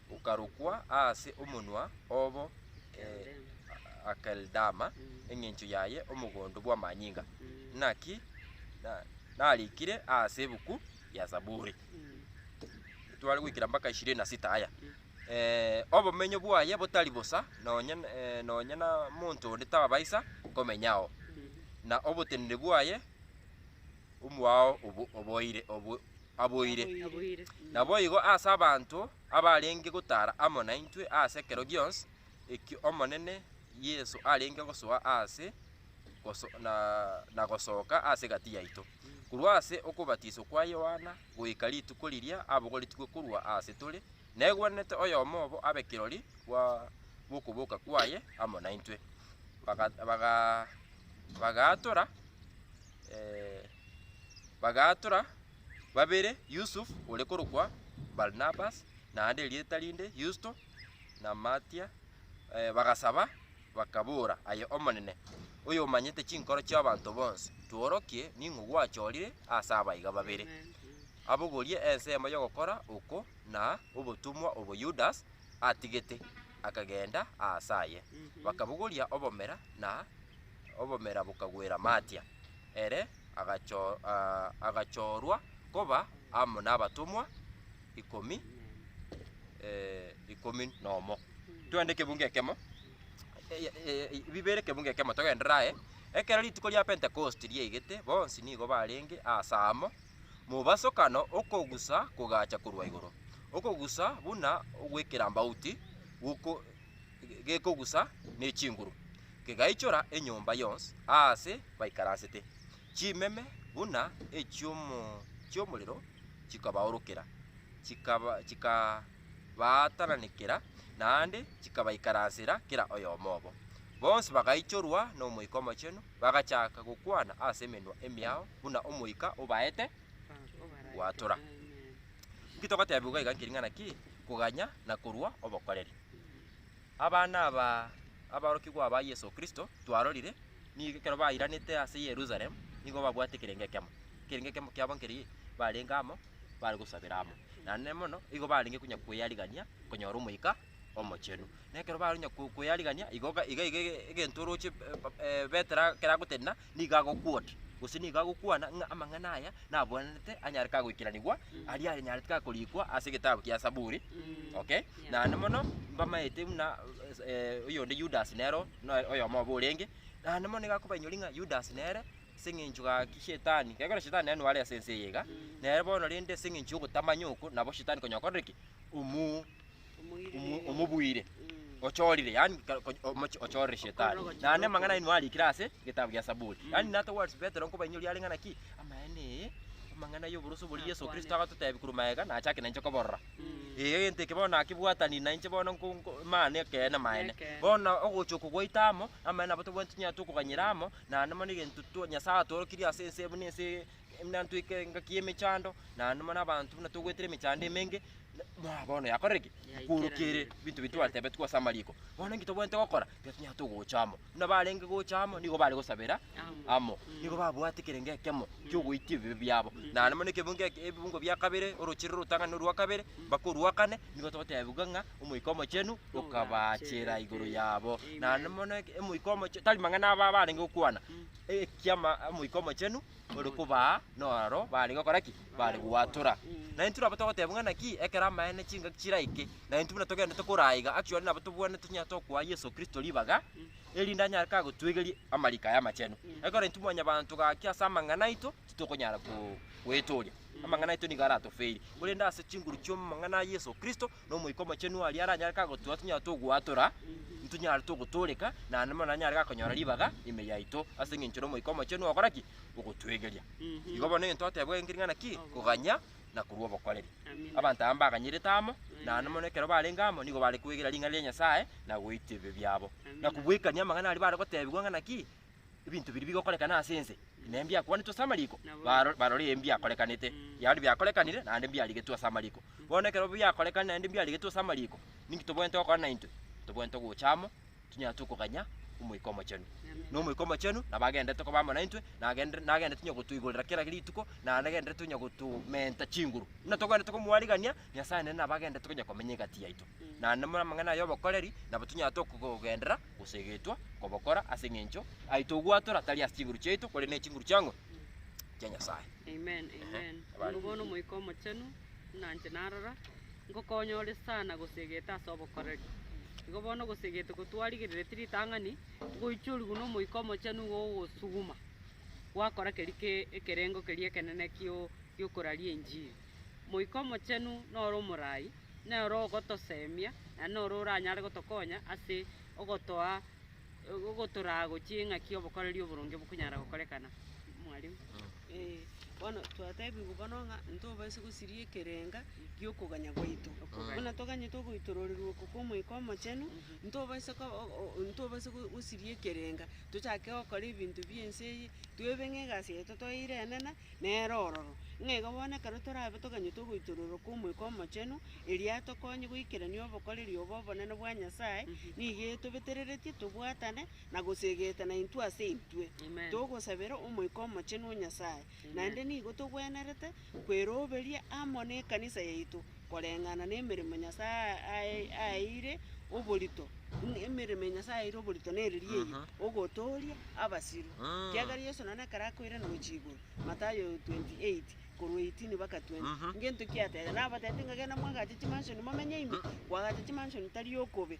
Okarokwa aase omonwa obo Akeldama, engencho yaye Omogondo bw'Amanyinga. Naki narikire aase ebuku ya Zaburi. Titware goikera mpaka ishirini na sita aya. Obomenyo bwaye botari bosa nonye na monto onde tabaisa komenya ao, na obotenene bwaye omoao oboire. aboire. Naboigo ase abanto abarenge gotara amo naintwe ase ekero gionsi eki Omonene Yeso arenge gosoa ase na gosoka ase egati yaito, korwa ase okobatiswa kwa Yohana goika rituko riria abogoretigwe korwa ase tore, negwenerete oyomo obo abe kirori bw'okoboka kwaye amo naintwe. Bagaatora. bagaatora babere, Yusufu ore korokwa Barnabas, naende erieta rinde Yusto, na Matia, eh, bagasaba, bakabora, Aye Omonene, oyomanyete chinkoro chi'abanto bonsi, tworokie ning'o gwachorire ase abaiga babere, abogorie ensemo y'ogokora oko na obotomwa obo Yudas atigete. Akagenda aase aye, bakabogoria obomera, na obomera bokagwera Matia. Ere agacho- ah, agachoorwa koba amo nabatomwa ikomi eh, ikomi nomo. Twende ekebungo ekemo, eh, eh, bibere ekebungo ekemo togenderere aye. Ekero rituko ria Pentekosti riaigete, bonsi nigo barenge aase amo, Mobasokano okogusa kogacha korwa igoro, okogusa buna ogw'ekerambauti goko gekogusa ne chinguru, kegaichora enyomba yonsi aase baikaransete. Chimeme buna echi'omo chi'omorero chikabaorokera, chikaba chikabaatananekera, naende chikabaikaransera kera oyomo obo. Bonsi bagaichorwa n'Omoika Omochenu, Bagachaka gokwana ase emenwa emiao buna omoika obaete gwatora. Inki togotebiwa iga nkiring'ana ki koganya na korua obokoreri? Abana aba aborokigwa aba Yeso Kristo twarorire nigo ekero bairanete ase Yerusalemu nigo babwate ekerengo ekemo. Ekerengo ekemo kiabo nkeri, barenge amo bare gosabera amo. Naende mono igo barenge konya kwearigania konyora omoika Omochenu. Na ekero bakonya ko- koyarigania, igo ga- iga iga ege- egento oroche eh, ba- eh, betera keragotenena, nigo agokwota, gose nigo agokwana ng'a amang'ana aya nabwenerete anyare kagoikeranigwa aria anyarete kakorikwa ase egetabu kia Saburi, okay? Naende mono, mbamaete buna eh, oyonde Yudas nero noe oyomo obo orenge, naende mono nigo akobainyoria ng'a Yudas nere ase eng'encho gaki shetani, gekogera shetani nere nore ase ense eye iga, nere bono rende ase eng'encho yogotamanya oko, nabo shetani konya okorire ki? Omuu. omo- omobuire ochorire yani ka- ko- omoch- ochorire shetani naende amang'ana aino arikire ase egetabu gia saburi yani nato words petero nkobainyoria are ng'a naki amaene ee amang'ana y'oboroso boria yeso kristo agototebia korwa magega nachake nainche koborora ee egento eke bono nakebwataniri nainche bono nko- nko maane ekeene amaene Ekeene. bono ogocha oko gwaito amo amaene abo tobwenereti tonya tokoganyera amo naende mono egento to- nyasae atworokirie ase ense buna ense na ntweke engaki y'emechando, na numa nabanto buna togwetire emechando emenge, na- na bono yakorire ki? Yaikera Yakworokirie ime. binto biria twatebetigwe ase amariko. Bono nki tobwenerete gokora? Tiga tonyare togocha amo. Buna barenge gocha amo, nigo bare gosabera Amo. amo. Mm. Nigo babwate kere gekemo kiogoitia ebibe biabo. Na numa nekebungo eke ebibungo bia kabere, orochire rotang'ane orwa kabere, mpaka orwa kane, nigo togotebiwa ng'a Omoika Omochenu okabaachera igoro yabo. Na Amen. numa bono eke- Omoika Omoche- tari mang'ana aba barenge gokwana, ekiama Omoika Omochenu ore kobaa, noraro bare gokora ki? Bare gwatora. Na intwe nabo togoteba ng'a naki ekero amaene chingaki chiraike, na intwe buna togenderete koraa iga, actually nabo tobwenerete tonya tokoa Yeso Kristo ribaga, erinde anyare ka gotwegeria amariko aya amachenu. Ekero intwe mwanyabanto gaki ase amang'ana aito, titokonyara ko- goetoria, amang'ana aito nigo aratofeiri, korende ase chinguru chi'omong'ana Yeso Kristo, na Omoika Omochenu aria aranyare kagotua tonyare togwatora, ntonyare togotoreka, naende mono nanyare gakonyora ribaga ime yaito, ase eng'encho n'Omoika Omochenu ogokora ki? Ogotwegeria. Igo bono egento toteba enchiri ng'a naki? Koganya na korwa obokoreri. Abanto aba mbaganyerete amo, naende mono ekero barenge amo nigo bare kwegera ring'ana ria Nyasae na goitwa ebibe biabo, na kobwekania amang'ana aria bare gotebigwa ng'a naki? Ebinto biria bigokorekana ase ense nembiakwanetwe ase amariko, baro- barore mbiakorekanete, yaani biakorekanire naende mbiarigetwe ase amariko. Bono ekero biakorekane naende mbiarigetwe ase amariko, ninki tobwenerete gokora naintwe? Tobwenerete gocha amo, tonyare twe koganya Omoika Omochenu. Na Omoika Omochenu nabo agendererete koba amo naintwe, na agende- na agendererete onye gotoigorera kera rituko, na nagendererete onye gotomenta chinguru. Buna togwenerete komoarigania, Nyasae nere nabo agendererete konya komenya egati yaito. Naende more amang'ana aye 'obokoreri, nabo tonyare toko- gogenderera. gose egetwa kobokora ase eng'encho aito ogwatora tari ase chinguru chiaito korende ne chinguru chiang'o chia Nyasaye. Amen, amen. Abare. Oyo bono omoika omochenu, buna inche narora, ngokonya ore sana gosegete ase obokoreri. Igo bono gosegete kotwarigerereti ritang'ani, ngoichorigwa na omoika omochenu igo ogosuguma, gwakora keri ke- ekerengo keria ekenene kio- giokoraria enchiri. Moika omochenu noro omorai. Nere ogotosemia, na nere oranyare gotokonya ase ogotoa ogotoraa gochia eng'aki y'obokoreri oboronge bokonyara gokorekana. Mwarimu. Ee, bono twatebigwa bono ng'a ntobasa gosiria ekerenga gi'okoganya gwaito. Okoganya. Buna toganyete ogoitororerwa oko kw'Omoika Omochenu, ntobasa ko- o- o- o- ntobasa go- gosiria ekerenga, tochake gokora ebinto bi'ense eye, toebe ng'a egasi yaito toeire enene. Nere ororo. Ng'a iga bono ekero torabe toganyete ogoitororoka Omoika Omochenu, erio atokonye goikerania obokoreri obo obonene bwa Nyasae, nigo etobetereretie tobwatane na goseegetana intwe ase intwe, Amen. togosabera Omoika Omochenu o Nyasae. Amen. Naende nigo togwenerete kweroberia amo nekanisa yaito, koreng'ana nemeremo Nyasae ae- aeire oborito, buna emeremo ya Nyasae aeire oborito nereria eyio, Aha. ogotooria abasiru. Ah. Kiagera Yeso nonye ekero akoirana gochia igoro, Mathayo 28, korwa 18 mpaka 20, Mhm. ngento ki atebete? Nabatebirie ng'a genda mwagache chimansion momenye ime, kwagacha chimansion tari okobe,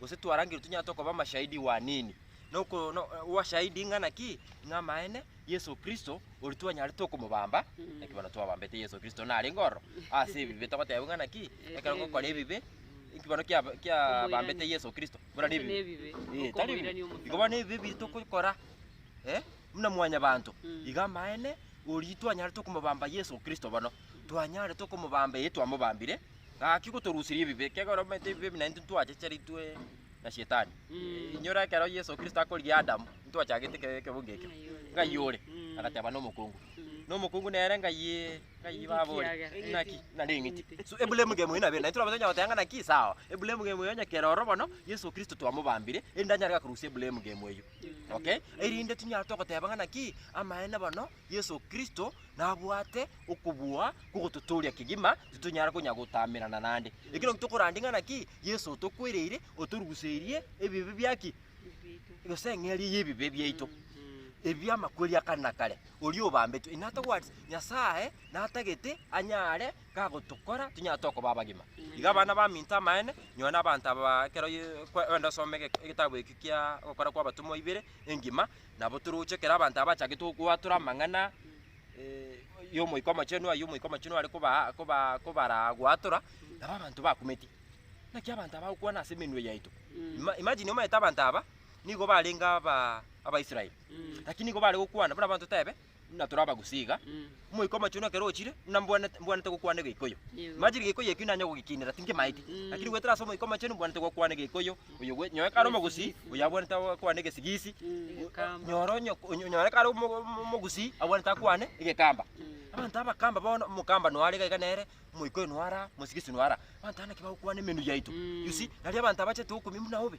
gose twarangerwe tonyare tokoba amashahidi wanini. Na oko- no- obashahidi ng'a naki? Ng'a amaene Yeso Kristo oria twanyarete okomobamba, naki bono twabambete Yeso Kristo narenge ororo ase ebibe, togoteba ng'a naki? Ekero gokora ebibe, nki bono kia- kiabambete Omoirani. Yeso Kristo buna Ase nebibe? nebibe, Eh, tari okomoirania bibe. omosacha. Igo bono ebibe ebi tokogora, eh, buna mwanyabanto, Mm. iga amaene oria twanyarete okomobamba Yeso Kristo bono, twanyarete okomobamba, eh, twamobambire, Gaki gotoruseria ebibe, kegera omanyete ebibe ebi naintwe ntwachecheritwe na Shetani. Inyora ekero Yeso Kristo akorigia Adamu, ntwachagete eke- ekebunga ekio. Ng'ai ore? Agateba nomokungu. Nomokungu nere ng'ai ng'ai baba ore? Ekiagera. Naki nare eng'iti. So eburemu ngemo eyo nabere, naintwe tonyara goteba ng'a naki sawa. Eburemu ngemo eyo onye kera ororo bono, Yeso Kristo twamobambire, erinde anyare korusia eburemu ngemo eyio. Okay? Erinde tinyara togoteba ng'a naki amaene bono Yeso Kristo nabwate okobua kw'ogototooria kegima, titonyara konya gotamerana naende. Ekero tokorandia ng'a naki Yeso otokwereire, otoruguseirie ebibe bia ki? Gose eng'eria y'ebibe biaito, ebi bi'amakweri a kare na kare, oria obambetwe, inatobwati Nyasae natagete anyare kagotokora tonyare tokoba abagima. Iga abana baminto amaene, nyowe na abanto aba ekero ye- kwe- wenda osome ege- egetabu eke kia Ogokora kw'Abatomwa ibere engima, Nabo toroche kera abanto abachagete go- goatora amang'ana eh, y'Omoika Omochenu, ayio Omoika Omochenu are kobaa- kobaa- kobaraa goatora, nabo abanto bakumeti. Naki abanto aba bagokwana ase emenwa yaito. Ima- imagine omanyete abanto aba, nigo barenge aba- Abaisraeli. Lakini nigo bare gokwana, buna abanto tebe, buna tore abagusii iga, Omoika Omochenu ekero ochire, buna mbwanete mbwanete gokwana Egeikoyo. Yego. Imagine Egeikoyo ekio nanye gogekinera, tinkemaeti. Mm. Lakini goetera ase Omoika Omochenu mbwanete gokwana Egeikoyo, oyo gwe nyoe kare omogusii, Egesigisi. oyo abwanete akwane Egesigisi, Mm. Egekamba. nyore onye onye- nyore kare omo- omo- omogusii abwanete akwane Egekamba. Abanto abakamba bono, omokamba noyo are iga iga nere, Omoika oyo noyo are aa, Omosigisi noyo are aa. Abanto aba naki bagokwana emenwa yaito, Mm. you see, nari abanto abachete okomia buna obe.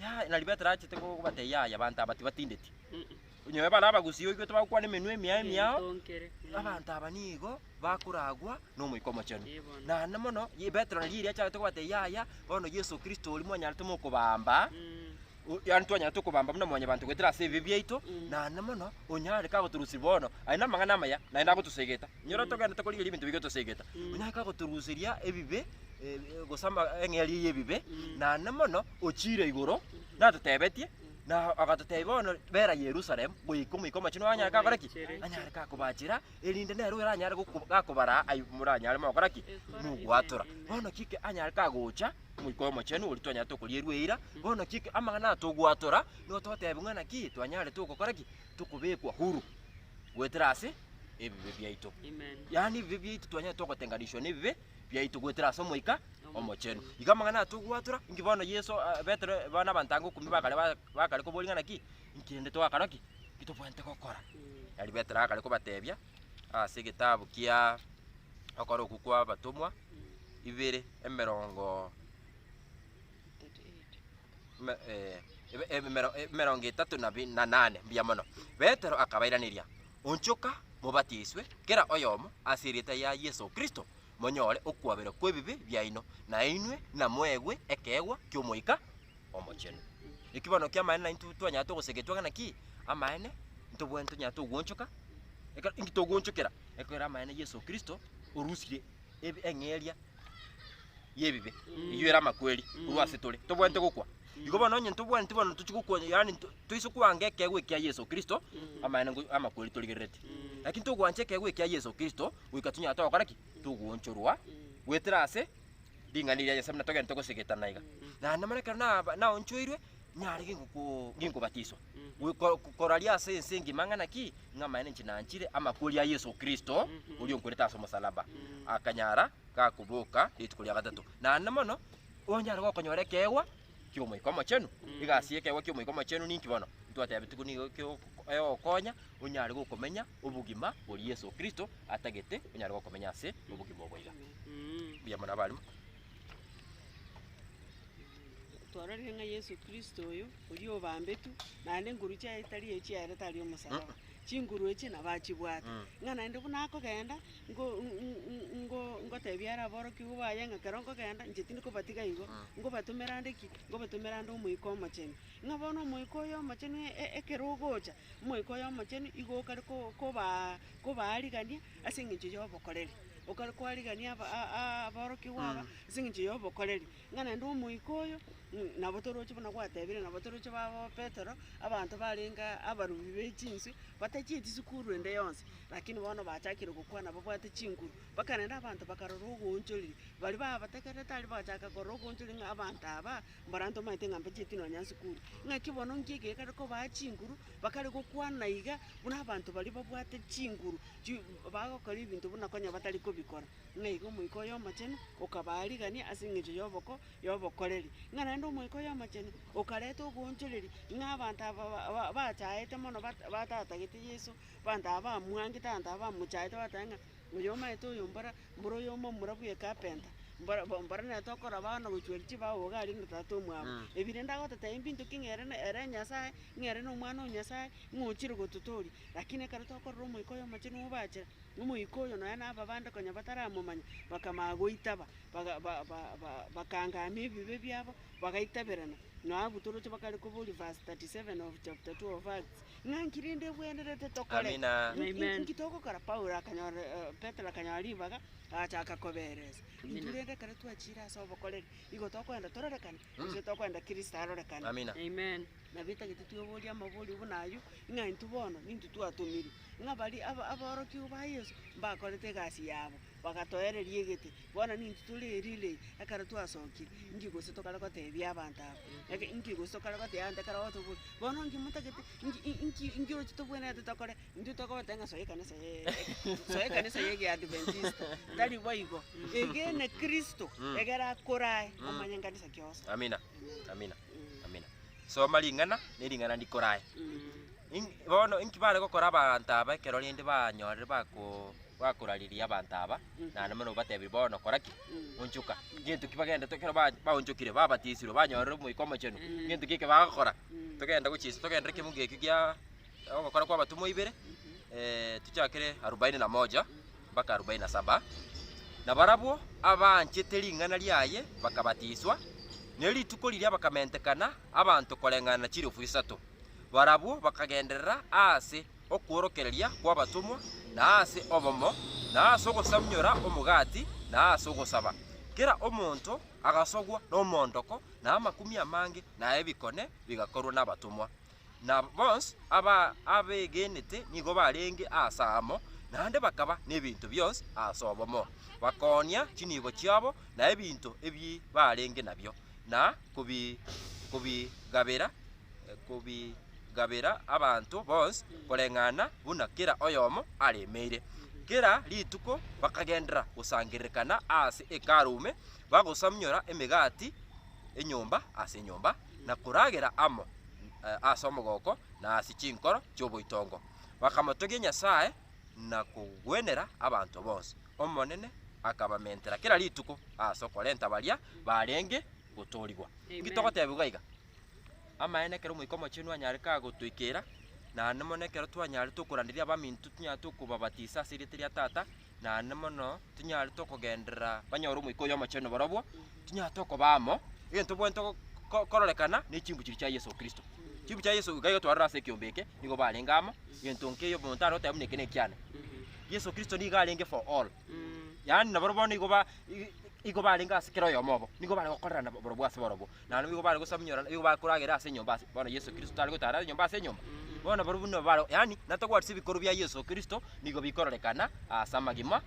Yaya, nari Petero achete ko- kobatebia yaya abanto aba tibatindeti. Mm. Onye bare abagusia oigwe tibagokwana emenwa emiao emiao, Oitonkere. Mm. abanto aba nigo bakoragwa n'Omoika Omochenu. Ee, bono. Naende mono ye- Petero nari erio achagete kobata yaya, bono Yeso Kristo oria mwanyarete mokobaamba, Mm. o- yaani twanyarete okobaamba buna mwanyabanto goetera ase ebibe biaito, Mm. naende mono onye are kagotorusiria bono, aye namang'ana amaya, naende agotosegeta. Onye ore togenderete korigereria ebinto biaito tosegeta. Mm. Onye are kagotorusiria ebibe, eh, gose ama- eng'eria y'ebibe, Mm. naende mono ochiire igoro, natotebetie, Na agatotebia bono, Bera Yerusalemu goika Omoika Omochenu anyare kakore ki? Anyare kakobachera, erinde nere oyo oranyare goko- gakobaraa aye moranyare mogokora ki? Mogwatora. Bono ki eke anyare kagocha Omoika Omochenu oria twanyarete okorierwa eira, bono ki eke amang'ana aya togwatora, nigo togotebiwa ng'a naki twanyarete ogokora ki? Tokobekwa huru goetera ase ebibe biaito. Yaani ebibe biaito twanyarete ogotenganisiwa nebibe biaito goetera ase Omoika Omochenu. Igo amang'ana aya togwatora, inki bono Yeso, ah, Petero, eh, bono abanto anga okumia bakare ba- bakare koboria ng'a naki, inki rende twakora ki? Inki tobwenerete gokora? Nari Petero akare kobatebia ase egetabu kia Okora Okwo kw'Abatomwa ibere, emerongo me eh, ebe- ebemero- emerongo etato na bi- na nane, mbuya mono. Petero akabairaneria, Onchoka mobatiswe, kera oyomo, ase erieta ya Yeso Kristo, monyore okwaberwa kw'ebibe biaino, na inwe namoegwe ekeegwa ki'Omoika Omochenu. Eki bono ki'amaene na intwe twanyare togosegetwa ng'a naki amaene ntobwate tonyare togoonchoka, ekero inki togoonchokera? Ekero amaene Yeso Kristo orusire eb- eng'eria y'ebibe, eyio ere amakweri korwa asetore, tobwate gokwa. Igo bono onye ntobwaneti bono ntochie gokwancha, yaani nto- toise kwanga ekeegwa ekia Yeso Kristo, amaene ngo- amakweri torigerereti. Lakini tokwancha ekeegwa ekia Yeso Kristo, goika tonyara togokora ki? Togoonchorwa goetera ase ring'ana eria Nyasae buna togende togosegetana iga. Naende mono ekero naba- naonchoirwe, nyare gingokoo- ginkobatiswa, gwe- ko- ko- koraria ase ense engima ng'a naki, ng'a amaene inche nanchire amakweri a Yeso Kristo, oria onkwerete ase omosalaba, akanyara gakoboka rituko ria gatato. Naende mono. Onyare gokonyora ekeegwa ki'Omoika Omochenu? Egasi y'ekeegwa ki'Omoika Omochenu ninki bono? Ntwatebetigwe nigo ekeo- egokonya onyare gokomenya obogima bori Yeso Kristo atagete onyare gokomenya ase obogima obo iga. Mbuya mono abaalimu. Twarorire ng'a Yeso Kristo oyo, oria obambetwe, naende engoru chiaye tari echiaye ere tari omosalaba. Chinguru echi nabachibwate, ng'a naende buna akogenda ngo- ng- ng- ngo- ngotebia are aborokigwa baye ng'a ekero nkogenda inche tindi kobatiga igo, ngobatomera ande ki? Ngobatomera ande Omoika Omochenu. Ng'a bono Omoika oyo Omochenu e- e- ekero ogocha, Omoika oyo Omochenu igo okare ko- kobaa kobaarigania ase eng'encho y'obokoreri, okare koarigania aba- a- a- aborokigwa aba ase eng'encho y'obokoreri. Ng'a naende omoika oyo, ng'- nabo toroche buna gwatebire, nabo toroche babo Petero, abanto barenge abarubi be chinswe, batachieti sikuru ende yonsi, lakini bono bachakire gokwana babwate chinguru. Mpaka naende abanto bakarora ogoonchoriri, baria babategerete aria bagachaka korora ogoonchoriri ng'a abanto abaa, mbaranto omanyete ng'a mbachieti nonya sikuru. Ng'aki bono nki eke gekare kobaa chinguru, bakare gokwana iga buna abanto baria babwate chinguru, chi bagokora ebinto buna konya batari kobikora. ng'a iga Omoika Oyomochenu okabaa rigania ase engencho y'oboko y'obokoreri, ng'a naende Omoika Oyomochenu okareta ogoonchoreria, ng'a abanto aba ba- bachaete mono bat- batatagete Yeso, abanto aba bamwangete, abanto aba bamochaete bateba ng'a oyo omanyete oyo mbora mbora oyomo omura bwe ekapenta, mbora bo mbora nere tokoraba bono gochia chibao iga aria na tata omwabo. Ebi rende agototebia mbinto ki ng'a ere na ere Nyasae, ng'a ere na Omwana o Nyasae, ng'a ochire gototoria. Lakini ekero tokorora Omoika Oyomochenu obachera. Nomoika oyo nonya na ababande konya bataramomanya, bakamanya goitaba, bakaangamia ebibe biabo, bagaitaberana. Nao abwo toroche bakare koboria verse 37 of chapter 2 of Acts, ng'a nki rende ebwenerete tokore? Amina. Amen. Nki togokora? Paulo akanyora, eh, Petero akanyora ribaga, agachaka koberesa. Amina. Intwe rende ekero twachiire ase obokoreri, nigo tokoenda tororekane, gose tokoenda Kristo arorekane. Amina. Amen. Nabo etagete tweoborie amaborio buna ayio, ng'a intwe bono nintwe twatomirwe. ng'a baria aba- aborokigwa ba Yeso mbakorete egasi yabo, bagatoereria egete. Bono nintwe tore erirei ekero twasokire, inki gose tokare goteebia abanto aba? Eke- inki gose tokare gotebia abanto ekero otobwa- bono inki motagete inki i- inki inki oroche tobwenerete tokore? Intwe tokobatebia ng'a soa ekanisa ye- soa ekanisa ye egeadventista, tari boigo, egene Kristo, egere akore aye, omanye nkanisa kionsi. Amina, amina. Amina. Soma ring'ana ne ring'ana ndikorae. Ing- Bono inki bare gokora abanto aba ekero rende banyorire bako bakorariria abanto aba, naende buna obatebirie bono kora ki? Onchoka. Gento ki bagenda to- ekero ba- baonchokire babatisirwe banyorire Omoika Omochenu, gento ki eke bagokora? Togenda gochia inse togenderere ekemogo ekio gia Ogokora kw'Abatomwa ibere, tochakere arubaini na moja mpaka arubaini na saba. Na barabwo abaanchete ring'ana riaye bakabatiswa, ne rituko riria bakamentekana abanto koreng'ana na chirefu isato. Barabwo bakagenderera aase okworokereria kw'Abatomwa, na aase obomo, na aase ogosamunyora omogati, na aase ogosaba. Kera omonto agasogwa nomoondoko, na amakumia amange, na ebikone bigakorwa n'Abatomwa. na bonsi ababegenete nigo barenge aase amo, naende bakaba nebinto bionsi aase obomo, bakoonia chinibo chiabo na ebinto ebi barenge nabio, na kobi kobigabera kobigabera abanto bonsi koreng'ana buna kera oyomo aremeire. Kera rituko bakagenderera gosangererekana aase Hekalu ime, bagosamnyora emegati enyomba ase enyomba. na koragera amo ase omogoko na ase chinkoro chi'oboitongo, bakamotogia Nyasae na kogwenera abanto bonsi. Omonene akabamentera kera rituko ase okorenta baria barenge gotoorigwa. Inki togotebiwa iga? Amaene ekero Omoika Omochenu anyare kagotoikera, naende mono ekero twanyarete okoranderia abaminto, tonyarete okobabatisa ase erieta ria Tata, Naende mono tinyare tokogenderera banyore Omoika oye Omochenu barabwo, tinyare tokoba amo, egento tobwenerete go- go- kororekana ne chinguru chiria chia Yeso Kristo. Chinguru chia Yeso iga igo twarorire ase ekiombe eke, nigo barenge amo, egento nkeyo omonto tare goteba buna eke nekiane. Yeso Kristo nigo arenge for all, yaani nabarabwo bono igo ba- i- i- igo barenge ase kera oyomo obo, nigo bare gokorerana borobwo ase borobwo. Naende boigo bare gosamunyora, na boigo bare koragera ase enyomba ase, bono Yeso Kristo tare gotara ase enyomba ase enyomba. Bono barobwo buna bare, yaani natogwatisi ebikorwa bia Yeso Kristo nigo bikororekana ase amagima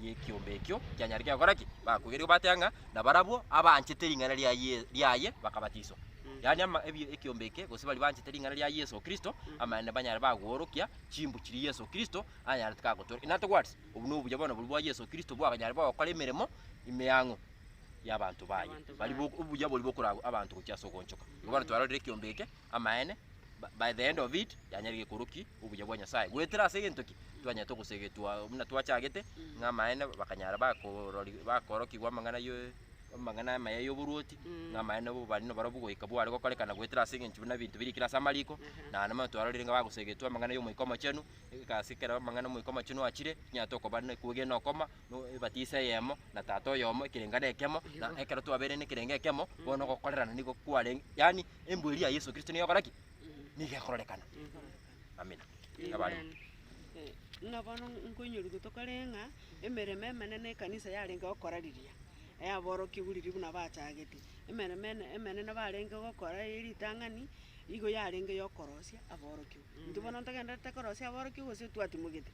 y'ekiombe ekio kianyarete gokora ki? Bakoigeria gobateba ng'a nabarabwo abanchete ring'ana ria Ye- riaye bakabatiswa. Yaani ama ebi ekiombe eke gose baria banchete ring'ana ria Yeso Kristo, amaene banyare bagoorokia chimbu chiria Yeso Kristo anyarete kagotooreka. Natogwatisi, obwo nobuya bono boria bwa Yeso Kristo bwakonyare bogokora emeremo emeang'u. y'abanto baye, Abanto baria baye. bo- obuya boria bokoragwa abanto gochia ase ogoonchoka. Igo bono twarorire ekiombe eke, amaene, ba- by the end of it, yanyarire gekoroki obuya bwa Nyasae, goetera ase egento ki twanyarete ogosegetwa buna twachagete, ng'a amaene bakanyara bakorori bakoorokigwa amang'ana yoe amang'ana amaya y'oboruoti, Mm. ng'a amaene bo bari nabarobwo goika bware gokorekana goetera ase engencho buna ebinto birikire ase amariko, Ehe. naende bono twarorire ng'a bagosegetwa amang'ana y'Omoika Omochenu, ase ekero amang'ana Omoika Omochenu achire, tinyara tokoba ne- kwegena okoma, no ebatisa eyemo, na Tata oyomo, ekerengane ekemo, na ekero twabeire nekerenge ekemo, bono ogokorerana nigo kwarenge, yaani embu eria ya Yeso Kristo nigo egokora ki? Nigo ekororekana. Amina. Abare. Amen. Eh, Buna bono nkoinyorigwe tokore ng'a emeremo emenene ekanisa yarenge gokora riria yaborokigwe riria buna bachagete. Emeremo ene emenene barenge gokora ye ritang'ani, igo yarenge yokorosia aborokigwa. Intwe bono ntogendererete korosia aborokigwa gose twatimogete?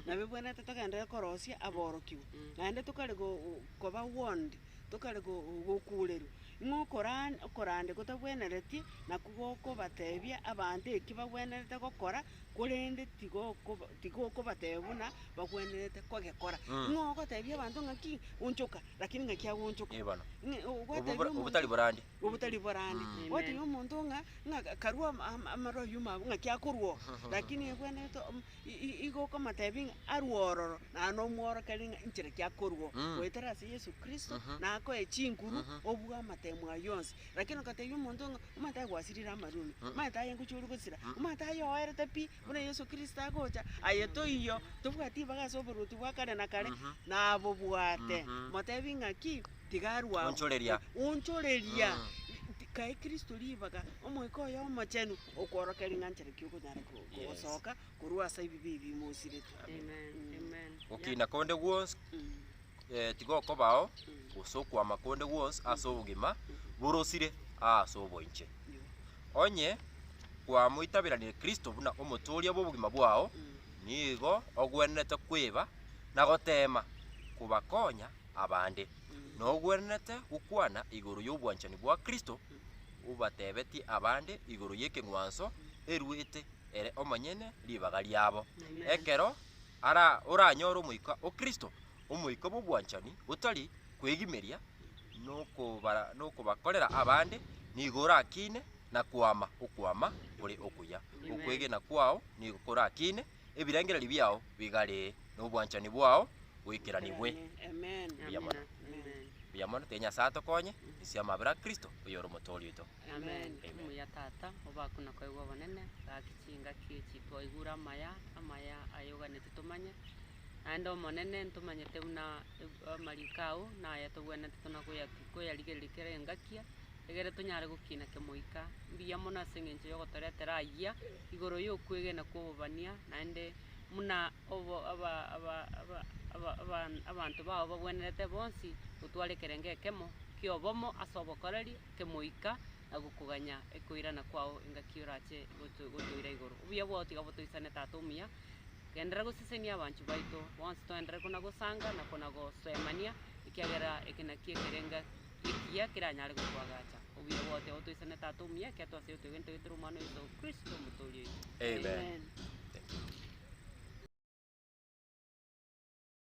Nabebwenerete togenderere korosia aborokigwa, naende tokare go- go- koba warned, tokare go- go- gokuurerwa, ng'a okoran okorande gotabwenereti nakwo gokobatebia abanto eki bagwenerete gokora, korende tigokoba tigokobatebia buna bagwenerete kogekora. Mm. Ng'a ogotebia abanto ng'aki, onchoka, rakini ng'aki agonchoka. Eeh bono. Ng'a ogotebia Obobo- omonto- obotari borande. obotari borande. Amen. Gwatebi omonto ng'a ng'a ka- karua ama- ama- amarwa yuma abwo ng'aki akorwa oo. Lakini ebwenerete om- i- i- igo okomotebi ng'a arwe ororo, naye nomworokereria ng'a inchera ki akorwa oo. Mm. Goetera ase Yesu Kristo, Mhm. nakoe chinguru, Mhm. obua amatemo aye onsi. Lakini okotebi omonto ng'a omanyete aye gwasirire amarwa ime, omanyete aye ngochia ore gosira, omanyete aye oerete pi, Buna Yeso Kristo agocha, aye toiyo, tobwati ibaga ase oboruoti bwa kare na kare, nabobwate. Motebi ng'aki? Tiga arue agwo. Onchoreria. Onchoreria. Ti- Kae Kristo ribaga, Omoika oye Omochenu, okworokia ring'anchero ki okonyara ko- Yes. kogosoka korwa ase ebibe ebi mosiretwe. Amen. Amen. Gokina konde gwonsi. Mm. eh, tigokobao gose okwama konde gwonsi ase obogima borosire aase oboinche. Onye kwamoitaberanire Kristo buna omotooria bw'obogima bwao, nigo ogwenerete kweba na goteema kobakonya abande. Nogwenerete gokwana igoro y'obwanchani bwa Kristo obatebetie abande igoro y'ekeng'wanso eruete ere omonyene ribaga riabo. Ekero ara oranyore omoika o Kristo, omoika bw'obwanchani botari kwegimeria nokobara nokobakorera abande, nigo orakiine na koama okwama kore okuya. Okwegena kwao nigo korakiine ebirengererio biao bigare, na obwanchani bwao boikeranigwe. Mbuya mono. Mbuya mono, tiri Nyasae atokonye, ase amabera a Kristo, oyore Omotooria oito. Amen. Omuya Tata, obe aa kona kwaigwa obonene, gaki chingaki echi twaigure amaya, amaya aye oganeti tomanye, naende Omonene ntomanyete buna e- amariko ao naye togwenerete tona koya- koyarigereria kera engakia, egere tonyare gokina kemoika. Mbuya mono ase eng'encho yogotoretera ayia, igoro yokwegena kwa obobania, naende muna obo aba- aba- aba- aba- aban- abanto bao bagwenerete bonsi, otware ekerengo ekemo kia obomo ase obokoreri. kemoika na gokoganya ekoirana kwao engaki orache gotoira igoro. Obuya bwao tiga botoisane Tata omuya, genderera gosesenia abanchwa baito bonsi toenderere konagosanga na konagosoemania ekiagera eke nakio ekerenga ekiya keranyare gotwagacha. Obuya bwao tiga botoisane Tata omuya ekiato ase oyotwegete ntogetera Omwana oito Kristo Omotoori oito. Amen. Amen.